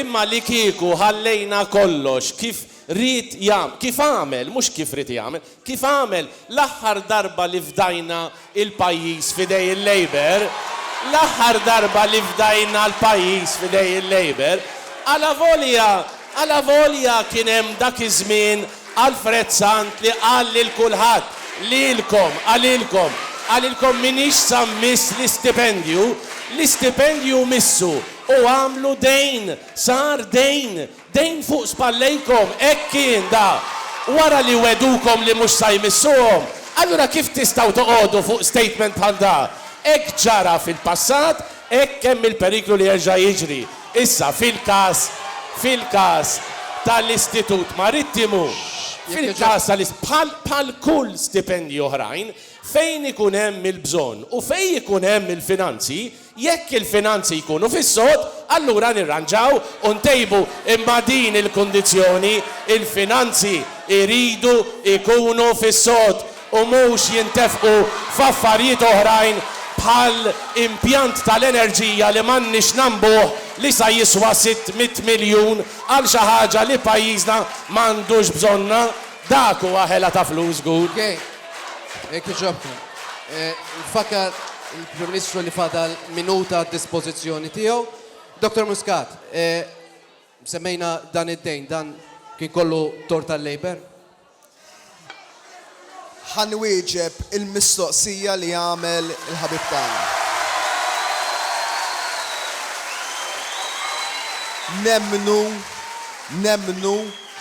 imma li kieku ħallejna kollox kif ried jagħmel, kif għamel, mhux kif ried jagħmel, kif għamel l-aħħar darba li fdajna l-pajjiż f'idej il-Labour, l-aħħar darba li fdajna l-pajjiż f'idej il-Labour, alavolja, alavolja kien hemm dak iż-żmien Alfred Sant li qal lil kulħadd, lilkom, għalilkom, għalilkom m'iniex sa mmiss l-istipendju, l-istipendju missu u għamlu dejn, sar dejn, dejn fuq spallejkom, hekk kien da. Wara li wegħdukom li mhux sa jmissuhom, allura kif tistgħu toqogħdu fuq statement bħal da? Hekk ġara fil-passat, Hekk hemm il-periklu li jerġa' jiġri. Issa, fil-każ, fil-każ ta' l-Istitut Marittimu, fil-każ ta' l-Ist-, bħal, bħal kull stipendji oħrajn, fejn ikun hemm il-bżonn u fejn ikun hemm il-finanzi, jekk il-finanzi jkunu fis-sod, allura nirranġaw u ntejbu. Imma din il-kundizzjoni, il-finanzi jridu jkunu fis-sod. u mhux jintefqu f'affarijiet oħrajn bħal impjant tal-enerġija li m'għandniex nagħmbuh li sa jiswa sitt mitt miljun għal xi ħaġa li pajjiżna m'għandux bżonnha, dak huwa ħela ta' flus żgur. Okej. Jekk jogħġobkom. Nfakkar lill-Prim Ministru li fadal minuta għad-dispożizzjoni tiegħu. Dottor Muscat, semmejna dan id-dejn, dan kien kollu tort tal-Labour? Ħa nwieġeb il-mistoqsija li għamel il-ħabib tagħna. Nemmnu, nemmnu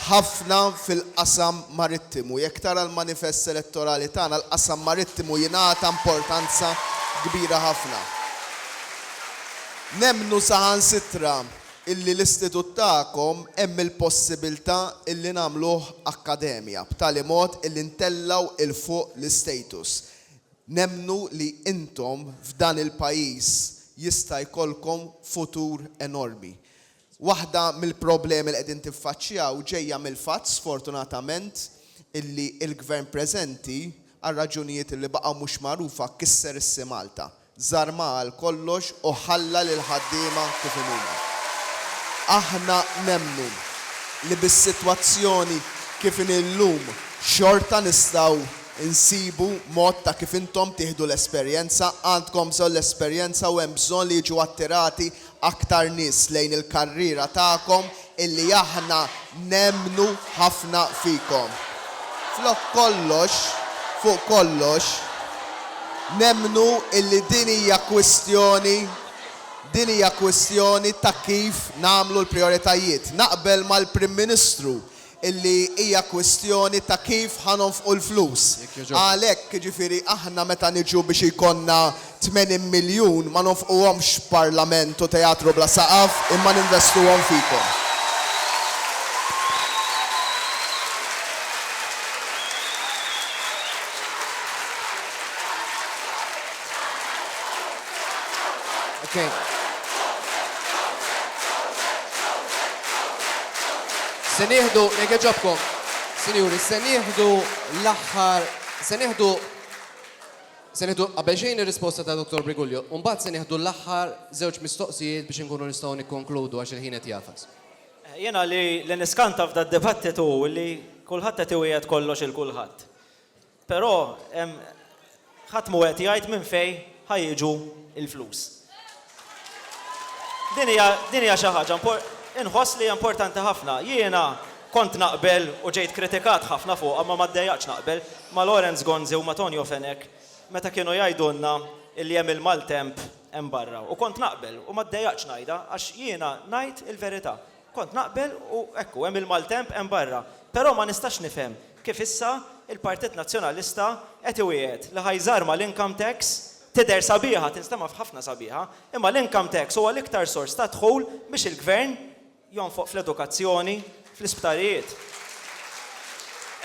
ħafna fil-qasam marittimu. Jekk tara l-manifest elettorali tagħna, l-qasam marittimu jingħata importanza kbira ħafna. Nemmnu saħansitra illi l-istitut tagħkom hemm il-possibilità illi nagħmluh akkademja b'tali mod illi ntellgħu 'l fuq l-istatus. Nemmnu li intom f'dan il-pajjiż jista' jkollkom futur enormi. Waħda mill-problemi li qegħdin tiffaċċjaw ġejja mill-fatt, sfortunatament, illi l-Gvern preżenti, għal raġunijiet illi baqgħu mhux magħrufa, kisser is-SIMalta. żarmha għal kollox u ħalla lill-ħaddiema kif inhuma. Aħna nemmnu li bis-sitwazzjoni kif inhi llum xorta nistgħu nsibu mod ta' kif intom tieħdu l-esperjenza, għandkom bżonn l-esperjenza u hemm bżonn li jiġu attirati aktar nies lejn il-karriera tagħkom illi aħna nemmnu ħafna fikom. Flok kollox, fuq kollox, nemmnu illi din hija kwistjoni din hija kwistjoni ta' kif nagħmlu l-prijoritajiet. Naqbel mal-Prim Ministru illi hija kwistjoni ta' kif ħa nonfqu l-flus. Għalhekk, jiġifieri aħna meta niġu biex jkollna 80 miljun ma nonfquhomx f'Parlament u Teatru bla Saqaf imma ninvestuhom fikom. Okay. Se nieħdu, jekk ġobkom, sinjuri, se nieħdu l-aħħar, se nieħdu Se nieħdu qabel xejn ir-risposta ta' Dr. Brigulio, u mbagħad se nieħdu l-aħħar żewġ mistoqsijiet biex inkunu nistgħu nikkonkludu għax il-ħin qed jafas. Eh, jiena li niskanta f'da dibattitu li kulħadd qed iwiegħed kollox il kulħadd. Però ħadd mhu qed jgħid minn fejn ħa jiġu l-flus. Din hija din hija xi ħaġa inħoss li hija importanti ħafna. Jiena kont naqbel u ġejt kritikat ħafna fuqha ma ma ddejaqtx naqbel ma' Lawrence Gonzi u ma' Tonio Fenech meta kienu jgħidulna li hemm il-maltemp hemm barra u kont naqbel u ma ddejaqtx ngħidha għax jiena ngħid il-verità. Kont naqbel u ekku hemm il-maltemp hemm barra. Però ma nistax nifhem kif issa l-Partit Nazzjonalista qed iwiegħed li ħa jżarma l-income tax, tidher sabiħa, tinstema' f'ħafna sabiħa, imma l-income tax huwa l-iktar sors ta' dħul biex il-Gvern jonfoq fl-edukazzjoni, fl-isptarijiet.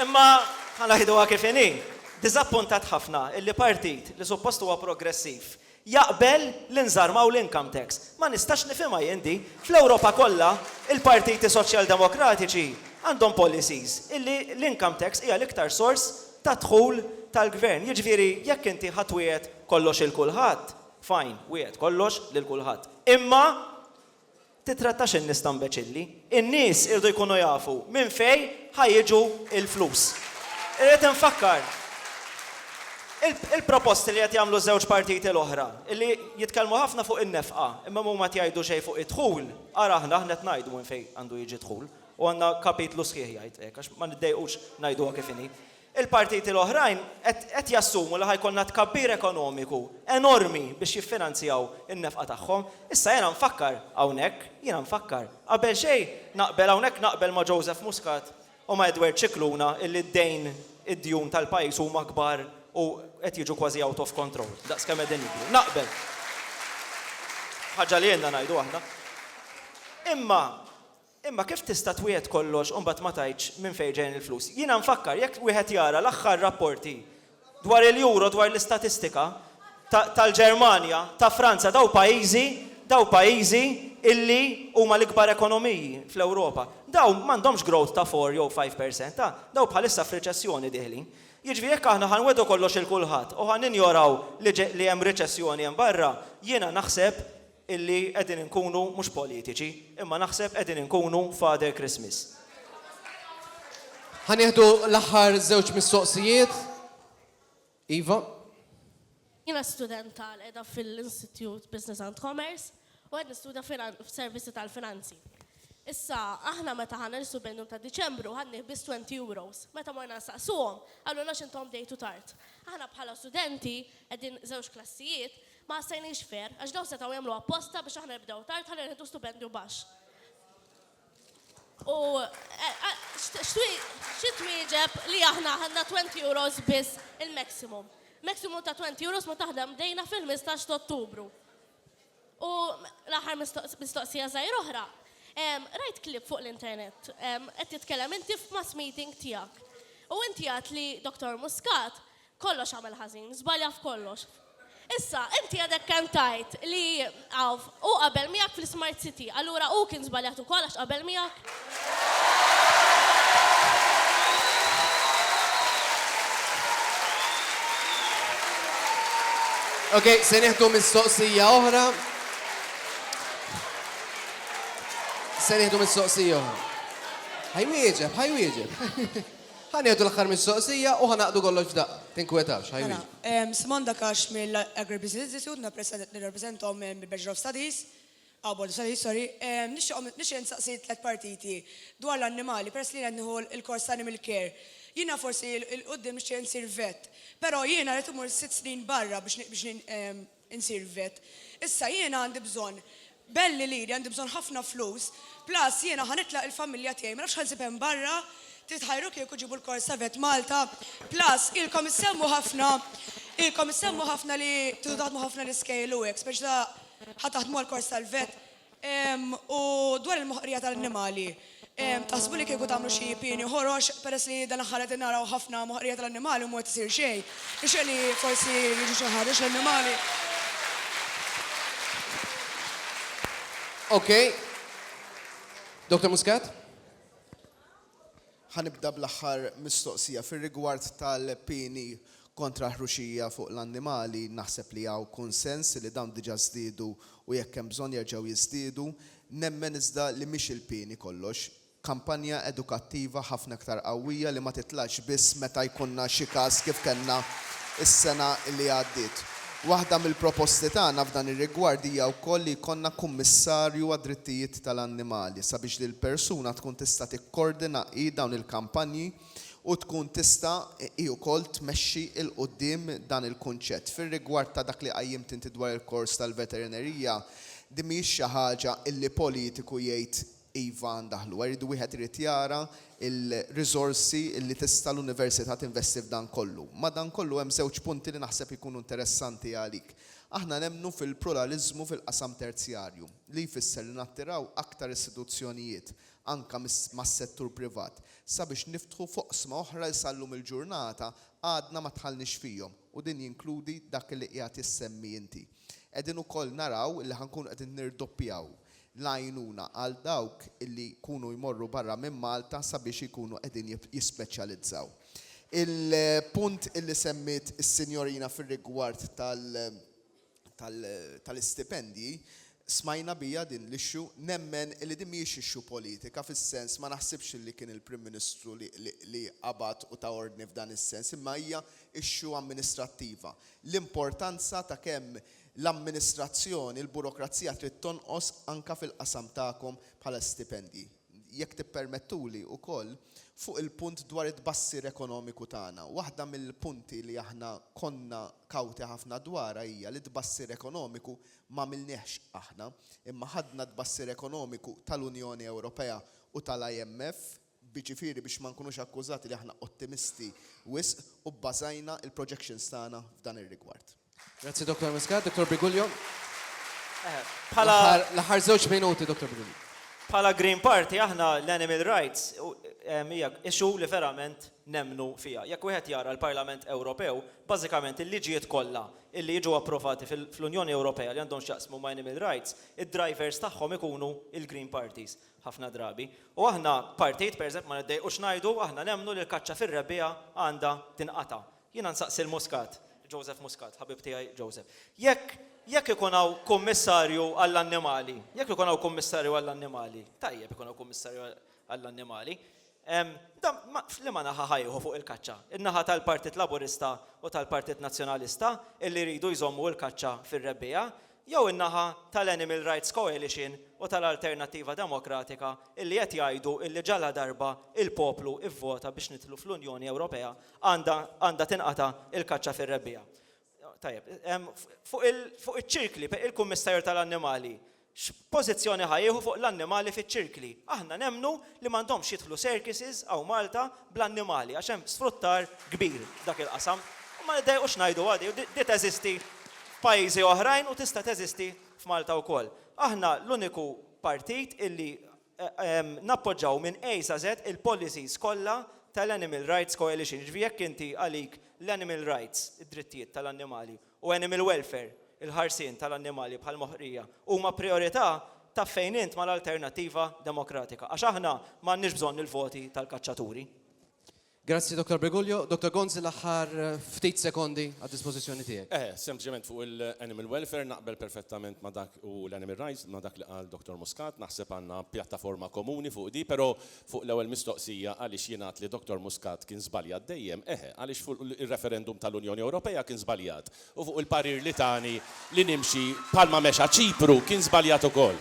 Imma ħa ngħiduha kif inhi, diżappuntat ħafna illi partit li suppost huwa progressiv jaqbel li nżarmaw l-income tax. Ma nistax nifhimha jien din. Fl-Ewropa kollha il-partiti soċjaldemokratiċi għandhom policies illi l-income tax hija l-iktar sors ta' dħul tal-gvern. Jiġifieri jekk inti ħa twiegħed kollox 'il kulħadd, fine, wiegħed kollox lil kulħadd. Imma Tittrattax in-nies ta' mbeċilli. In-nies iridu jkunu jafu minn fejn ħa jiġu l-flus. Irrid infakkar, il-proposti li qed jagħmlu ż-żewġ partiti l-oħra, li jitkellmu ħafna fuq in-nefqa, imma huma qed jgħidu xejn fuq id-dħul, ara aħna, aħna qed ngħidu minn fejn għandu jiġi d-dħul, u għandna kapitlu sħiħ jgħid hekk, għax ma niddejqux ngħiduha kif inhi. Il-partiti l-oħrajn qed jassumu li ħa jkollna tkabbir ekonomiku enormi biex jiffinanzjaw in-nefqa tagħhom. Issa jiena nfakkar hawnhekk, jiena nfakkar, qabel xejn naqbel hawnhekk naqbel ma' Joseph Muscat u ma' Edward Scicluna illi d-dejn, id-djun tal-pajjiż huma kbar u qed jiġu kważi out of control, daqs kemm qegħdin jikbru. Naqbel. Ħaġa li ilna ngħidu aħna. Imma Imma kif tista' twiegħed kollox u mbagħad ma tgħidx minn fejn ġejjin il-flus? Jiena nfakkar, jekk wieħed jara l-aħħar rapporti dwar il-Euro, dwar l-istatistika ta' tal-Ġermanja, ta' Franza, dawn pajjiżi, dawn pajjiżi illi huma l-ikbar ekonomiji fl-Ewropa, dawn m'għandhomx growth ta' four jew five per cent, ta', dawn bħalissa f'riċessjoni dieħlin. Jiġifieri jekk aħna ħa nwegħdu kollox 'il kulħadd u ħa ninjoraw li li hemm riċessjoni hemm barra, jiena naħseb, illi qegħdin inkunu mhux politiċi, imma naħseb qegħdin inkunu Father Christmas. Ħa nieħdu l-aħħar żewġ mistoqsijiet. Iva. Jiena student tal qiegħda fil-Institute Business and Commerce u qed nistudja f'servizi tal-finanzi. Issa, aħna meta ħanna nisu bennu ta' Diċembru ħadni bis 20 euros. Meta morna nsaqsuhom, għallu nax intom dejtu tard. Aħna bħala studenti qegħdin żewġ klassijiet, Ma ħassejniex fair, għax dawn setgħu jagħmlu apposta biex aħna nibdew tard ħalli nieħdu stupendju baxx. U xi twieġeb li aħna ħadna 20 euros biss il-maximum. Maximum ta' 20 euros ma taħdem bdejna fil-15 ta' Ottubru. U l-aħħar mistoqsija żgħir oħra, rajt klip fuq l-internet, qed titkellem inti f'mass meeting tiegħek. U inti għad li Dr. Muscat Kollox għamel ħażin, żbalja f'kollox. Issa, inti għadek kemm tgħid li hawn hu qabel miegħek fl-Ismart City, allura hu kien żbaljat ukoll għax qabel miegħek? Ok, se nieħdu mistoqsija oħra. Se nieħdu mistoqsija oħra. Ħajwieġeb, ħajwieġeb. Ħa nieħdu l-aħħar mistoqsija u ħa naqdu kollox f'daqqa. Tinkwetax, ħa jwieġbu. Mela, Simon Dakash mill-Agribusiness Institute, jiena president, nirrappreżentahom mill-Bachelor of Studies, ah, Board of Studies, sorry. Nixtieqhom, nixtieq insaqsi tliet partiti dwar l-annimali peress li jien qed nieħu l-kors ta' Animal Care. Jiena forsi 'l quddiem nixtieq insir vet, però jiena rrid immur sitt snin barra biex, biex, Insirvet. Issa jiena għandi bżonn belli liri, għandi bżonn ħafna flus, plus jiena ħa nitlaq il-familja tiegħi, ma nafx ħa nsib hemm barra, trid ħajru kieku ġiebu l-Kors Savet Malta, plus ilkom issemmu ħafna, ilkom issemmu ħafna li tridu taħdmu ħafna l-iskejjel u hekk, speċi ta' ħa taħdmu għall-Kors tal-Vet, U dwar il-moħqrija tal-annimali, taħsbu li kieku tagħmlu xi pieni ħorox, peress li dan l-aħħar qegħdin naraw ħafna moħqrija tal-annimali u mhu qed isir xejn, tixtieq li forsi jiġu xi ħarġ l-annimali? Okej. Dottor Muscat? Ħa nibda bl-aħħar mistoqsija. Fir-rigward tal-pieni kontra ħruxija fuq l-annimali, naħseb li hawn kunsens li dawn diġà żdiedu u jekk hemm bżonn jerġgħu jiżdiedu. Nemmen iżda li mhix il-pieni kollox. Kampanja edukattiva ħafna iktar qawwija li ma titlax biss meta jkunna xi każ kif kellna s-sena li għaddiet. Waħda mill-proposti tagħna f'dan ir-rigward hija wkoll li jkollna kummissarju għad-drittijiet tal-annimali sabiex din il-persuna tkun tista' tikkordina hi dawn il-kampanji u tkun tista' hi wkoll tmexxi 'l quddiem dan il-kunċett. Fir-rigward ta' dak li qajjimt inti dwar il-kors tal-veterinerija, din mhijiex xi ħaġa illi politiku jgħid Iva, ndaħlu hekk. Iridu wieħed irid jara l-riżorsi li tista' l-Università tinvesti f'dan kollu. Madankollu hemm żewġ punti li naħseb ikunu interessanti għalik. Aħna nemmnu fil-pluraliżmu fil-qasam terzjarju, li jfisser li nattiraw aktar istituzzjonijiet, anke mas-settur privat, sabiex niftħu f'oqsma oħra li sal-lum il-ġurnata għadna ma dħalniex fihom u din jinkludi dak li qiegħed issemmi inti. Qegħdin ukoll naraw li ħa nkunu qegħdin nirdoppjaw l-għajnuna għal dawk li jkunu jmorru barra minn Malta sabiex ikunu qegħdin jispeċjalizzaw. Il-punt li semmiet is-sinjorina fir-rigward tal-istipendji, smajna biha din l-issue, nemmen li din mhijiex issue politika fis-sens, ma naħsibx li kien il-Prim Ministru li qabad u ta ordni f'dan is-sens, imma hija issue amministrattiva. L-importanza ta' kemm L-amministrazzjoni, il-burokrazija trid tonqos anke fil-qasam tagħkom bħala stipendji. Jekk tippermettuli wkoll, fuq il-punt dwar it-tbassir ekonomiku tagħna, waħda mill-punti li aħna konna kawti ħafna dwarha hija li t-tbassir ekonomiku m'għamilniehx aħna, imma ħadna t-tbassir ekonomiku tal-Unjoni Ewropea u tal-IMF, Jiġifieri biex ma nkunux akkużati li aħna ottimisti wisq u bbażajna l-projections tagħna f'dan ir-rigward. Grazzi Dottor Muscat. Dottor Briguglio. L-aħħar żewġ minuti, Dottor Briguglio. Bħala Green Party aħna l-animal rights hija issue li verament nemmnu fiha. Jekk wieħed jara l-Parlament Ewropew, bażikament il-liġijiet kollha li jiġu approvati fl-Unjoni Ewropea li għandhom x'jaqsmu ma' animal rights, id-drivers tagħhom ikunu l-Green Parties. ħafna drabi. U aħna partijiet, pereżempju, ma niddejqux ngħidu, aħna nemmnu li l-kaċċa fir-rebbiegħa għandha tinqata'. Jiena nsaqsi 'l Muscat, Joseph Muscat, ħabib tiegħi Joseph, jekk jekk ikun hawn kummissarju għall-annimali, jekk ikun hawn kummissarju għall-annimali, tajjeb ikun hawn kummissarju għall-annimali, Dan f'liema naħa ħa jieħu fuq il-kaċċa? In-naħa tal-Partit Laburista u tal-Partit Nazzjonalista illi jridu jżommu l-kaċċa fir-rebbiegħa jew in-naħa tal-Animal Rights Coalition u tal-Alternattiva Demokratika illi qed jgħidu illi ġaladarba l-poplu vvota biex nidħlu fl-Unjoni Ewropea għandha tinqata' l-kaċċa fir-rebbiegħa? Tajjeb, fuq iċ-ċirkli, il-Kummissarju tal-Annimali x'pożizzjoni ħa jieħu fuq l-annimali fiċ-ċirkli? Aħna nemmnu li m'għandhomx jidħlu circuses hawn Malta bl-annimali għax hemm sfruttar kbir f'dak il-qasam. U ma niddejqux ngħiduha di, di teżisti f'pajjiżi oħrajn u tista' teżisti f'Malta wkoll. Aħna l-uniku partit illi Nappoġġaw minn A sa Z il-policies kollha tal-Animal Rights Coalition, jiġifieri jekk inti għalik l-animal rights, id-drittijiet tal-annimali, u animal welfare, il-ħarsien tal-annimali bħall-moħqrija, huma prijorità, taf fejn int mal-Alternattiva Demokratika. Għax aħna m'għandniex bżonn il-voti tal-kaċċaturi. Grazzi Dottor Briguglio. Dottor Gonzi l-aħħar ftit sekondi għad-dispożizzjoni tiegħek. Eh, sempliċement fuq il-animal welfare naqbel perfettament ma' dak u l-animal rights ma' dak li qal Dottor Muscat, naħseb għandna pjattaforma komuni fuq di, però fuq l-ewwel mistoqsija għaliex jingħad li Dottor Muscat kien żbaljat dejjem, eħe, għaliex fuq ir-referendum tal-Unjoni Ewropea kien żbaljat u fuq il-parir li tani li nimxi bħalma mexa Ċipru kien żbaljat ukoll.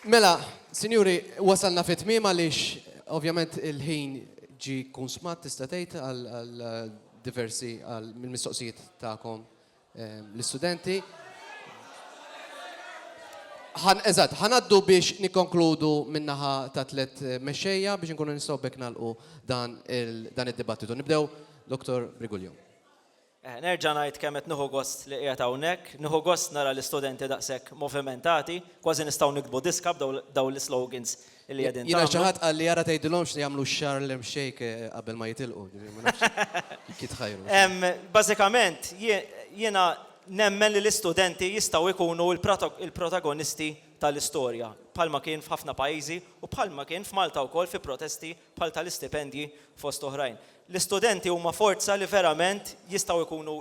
Mela, sinjuri, wasalna fi tmiem għaliex ovvjament il-ħin ġie kunsmat tista' tgħid għal diversi għal mill-mistoqsijiet tagħkom ehm, l-istudenti. Ħan eżatt, ħanaddu biex nikkonkludu min-naħa ta' tliet eh, mexxejja biex inkunu nistgħu bekk nagħlqu dan il- dan id-dibattitu. Nibdew Dr. Brigulju. Eħe, nerġa' ngħid kemm qed nieħu gost li qiegħed hawnhekk. Nieħu gost nara l-istudenti daqshekk movimentati. Kważi nistgħu niktbu diska b'dawn l-islogans li qegħdin tagħmlu. Jiena xi ħadd qalli ara tgħidilhomx li jagħmlu x-Harlem Shake qabel ma jitilqu. Ġifieri ma nafx jekk jitħajru. Bażikament, jiena nemmen li l-istudenti jistgħu jkunu l-protagonisti tal-istorja, bħalma kien f'ħafna pajjiżi u bħalma kien f'Malta wkoll fi protesti bħal tal-istipendji fost oħrajn. L-istudenti huma forza li verament jistgħu jkunu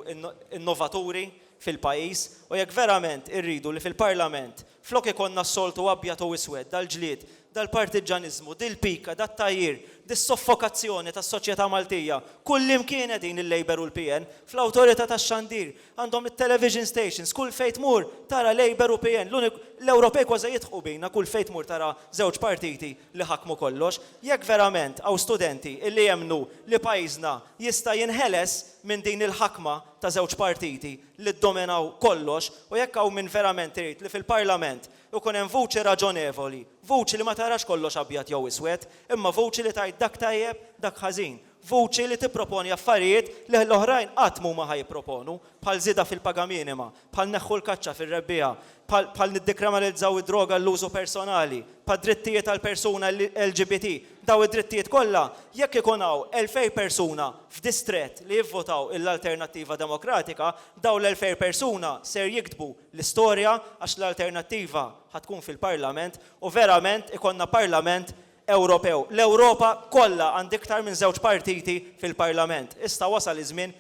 innovaturi fil-pajjiż u jekk verament irridu li fil-Parlament flok ikollna s-soltu abjad u iswed, dal-ġlied, dal-partiġġaniżmu, dil-pika, dat-tgħajjir, dis-soffokazzjoni tas-soċjetà Maltija, kullimkien qegħdin il-Labour u l-PN, fl-Awtorità tax-Xandir, għandhom it-television stations, kull fejn tmur tara Labour u PN, l-Ewropej kważi jidħqu bina kull fejn tmur tara żewġ partiti li ħakmu kollox, jekk verament hawn studenti li jemmnu li pajjiżna jista' jinħeles minn din il-ħakma ta' żewġ partiti li ddominaw kollox u jekk hawn min verament irid li fil-Parlament ikun hemm vuċi raġonevoli, vuċi li ma tarax kollox abjad jew iswed, imma vuċi li tgħid dak tajjeb, dak ħażin, vuċi li tipproponi affarijiet li l-oħrajn qatt m'huma ħa jipproponu, bħal żieda fil-paga minima, bħal neħħu l-kaċċa fir-rebbiegħa, bħal niddekriminalizzaw id-droga għall-użu personali, bħad-drittijiet tal-persuna LGBT, dawn id-drittijiet kollha, jekk ikun hawn elfejn persuna f'distrett li jivvotaw lill-Alternattiva Demokratika, dawn l-elfejn persuna ser jiktbu l-istorja għax l-Alternattiva ħa tkun fil-Parlament u verament ikollna Parlament Ewropew. L-Ewropa kollha għandha iktar minn żewġ partiti fil-Parlament. Issa wasal iż-żmien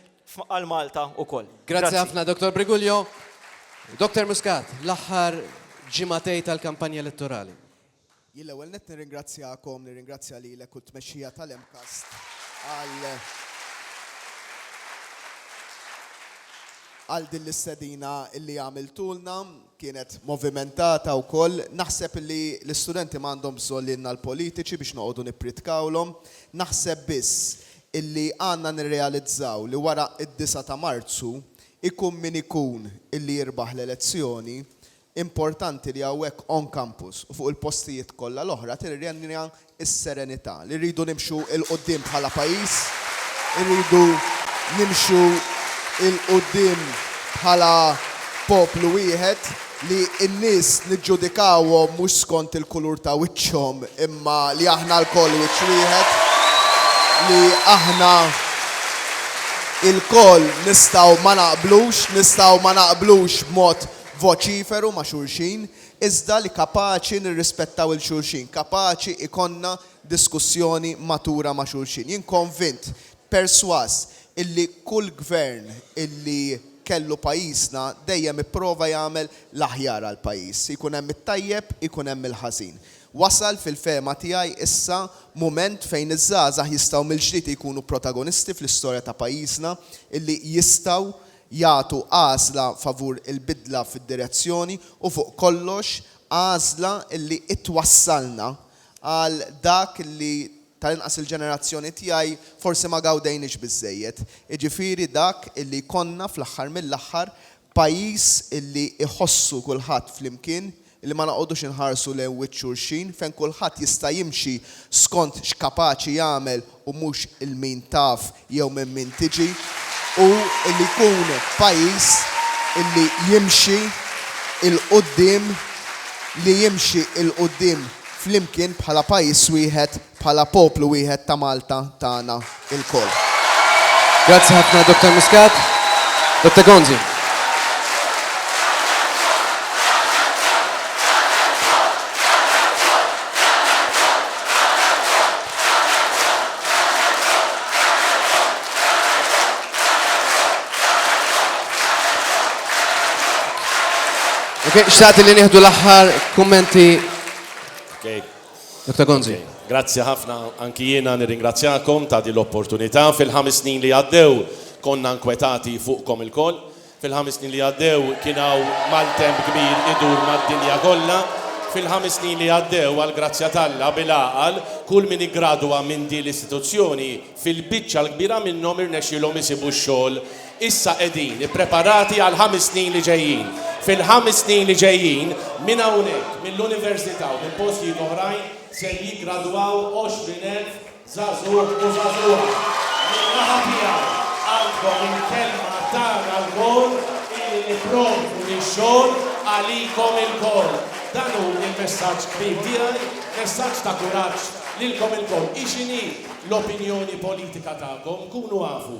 għal Malta ukoll. Grazzi ħafna Dottor Briguglio. Dottor Muscat, l-aħħar ġimagħtej tal-kampanja elettorali. Jien l-ewwel nett nirringrazzjakom, nirringrazzja lilek u t-tmexxija tal-MCAST għal għal din l-istedina illi għamiltulna, kienet movimentata wkoll. Naħseb li l-istudenti ma għandhom bżonn lilna l-politiċi biex noqogħdu nippritkawlhom. Naħseb biss illi għandna nirrealizzaw li wara id-disgħa ta' Marzu, ikun min ikun illi jirbaħ l-elezzjoni, importanti li hawnhekk on campus u fuq il-postijiet kollha l-oħra tirrenja s-serenità. Li rridu nimxu 'l quddiem bħala pajjiż, irridu nimxu 'l quddiem bħala poplu wieħed. li n-nies niġġudikawhom mhux skont il-kulur ta' wiċċhom imma li aħna lkoll wiċċ wieħed, li aħna lkoll nistgħu ma naqblux, nistgħu ma naqblux b'mod voċiferu ma' xulxin, iżda li kapaċi nirrispettaw 'il xulxin, kapaċi jkollna diskussjoni matura ma' xulxin. Jien konvint Persważ illi kull gvern illi kellu pajjiżna dejjem ipprova jagħmel l-aħjar għall-pajjiż. Ikun hemm it-tajjeb, ikun hemm il-ħażin. Wasal fil-fehma tiegħi issa mument fejn iż-żgħażagħ jistgħu mill-ġdid jkunu protagonisti fl-istorja ta' pajjiżna, illi jistgħu jagħtu għażla favur il-bidla fid-direzzjoni u fuq kollox għażla illi ittwassalna Għal dak li, tal-inqas il-ġenerazzjoni tiegħi, forsi ma gawdejniex biżżejjed, jiġifieri dak li jkollna fl-aħħar mill-aħħar pajjiż li jħossu kulħadd flimkien, li ma noqogħdux inħarsu lejn wiċċ xulxin, fejn kulħadd jista' jimxi skont x'kapaċi jagħmel u mhux il-min taf jew minn min tiġi, u li jkun pajjiż li jimxi 'l quddiem, li jimxi 'l quddiem flimkien bħala pajjiż wieħed, bħala poplu wieħed ta' Malta tagħna lkoll. Grazzi ħafna Dottor Muscat. Dottor Gonzi. Ok, xtaqt li nieħdu l-aħħar kummenti. Ok. Dr. Gonzi. Okay. Grazzi ħafna, anki jiena nirringrazzjakom ta' din l-opportunità. Fil-ħames snin li għaddew konna nkwetati fuqkom il-koll. Fil-ħames snin li għaddew kien hawn maltemp kbir idur mad-dinja kollha. Fil-ħames snin li għaddew, għall-grazzja t'Alla, bil-għaqal, kull min iggradwa minn din l-istituzzjoni, fil-biċċa l-kbira minnhom irnexxielhom isibu x-xogħol. Issa qegħdin ippreparati għall-ħames snin li ġejjin. Fil-ħames snin li ġejjin, minn hawnhekk, mill-Università u minn postijiet oħrajn, ser jiggradwaw 20,000 Żagħżugħ u żagħżugħa, min-naħa tiegħu għandkom il-kelma tagħna lkoll illi nipprovdu x-xogħol għalikom ilkoll. Dan hu l-messaġġ kbir tiegħi, messaġġ ta' kuraġġ lilkom ilkoll. Hi x'inhi l-opinjoni politika tagħkom? Kunu afu.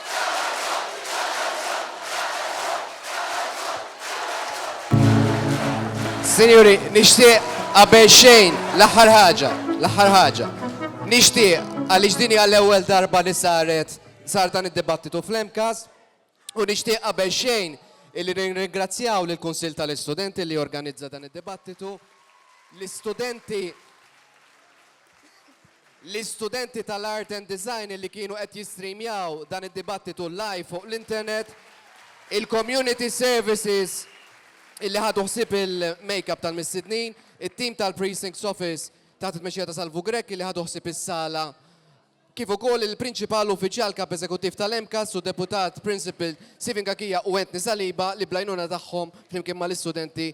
Sinjuri, nixtieq qabel xejn l-aħħar ħaġa, l-aħħar ħaġa. Nixtieq għaliex din hija l-ewwel darba li saret sar dan id-dibattitu fl-MCAS u nixtieq qabel xejn illi nirringrazzjaw lill kunsill tal-Istudenti li organizza dan id-dibattitu. L-istudenti L-istudenti tal-Art and Design li kienu qed jistreamjaw dan id-dibattitu live fuq l-internet, il-Community Services li ħadu ħsieb il-makeup tal-mistednin, it-tim tal-Precincts Office taħt it-tmexxija ta' Salvu Grech li ħadu ħsieb is-sala, kif ukoll il-Prinċipal Uffiċjal Kap Eżekuttiv tal-MCAST u Deputat Principal Stephen Cachia u Anthony Saliba li bl-għajnuna tagħhom flimkien mal-istudenti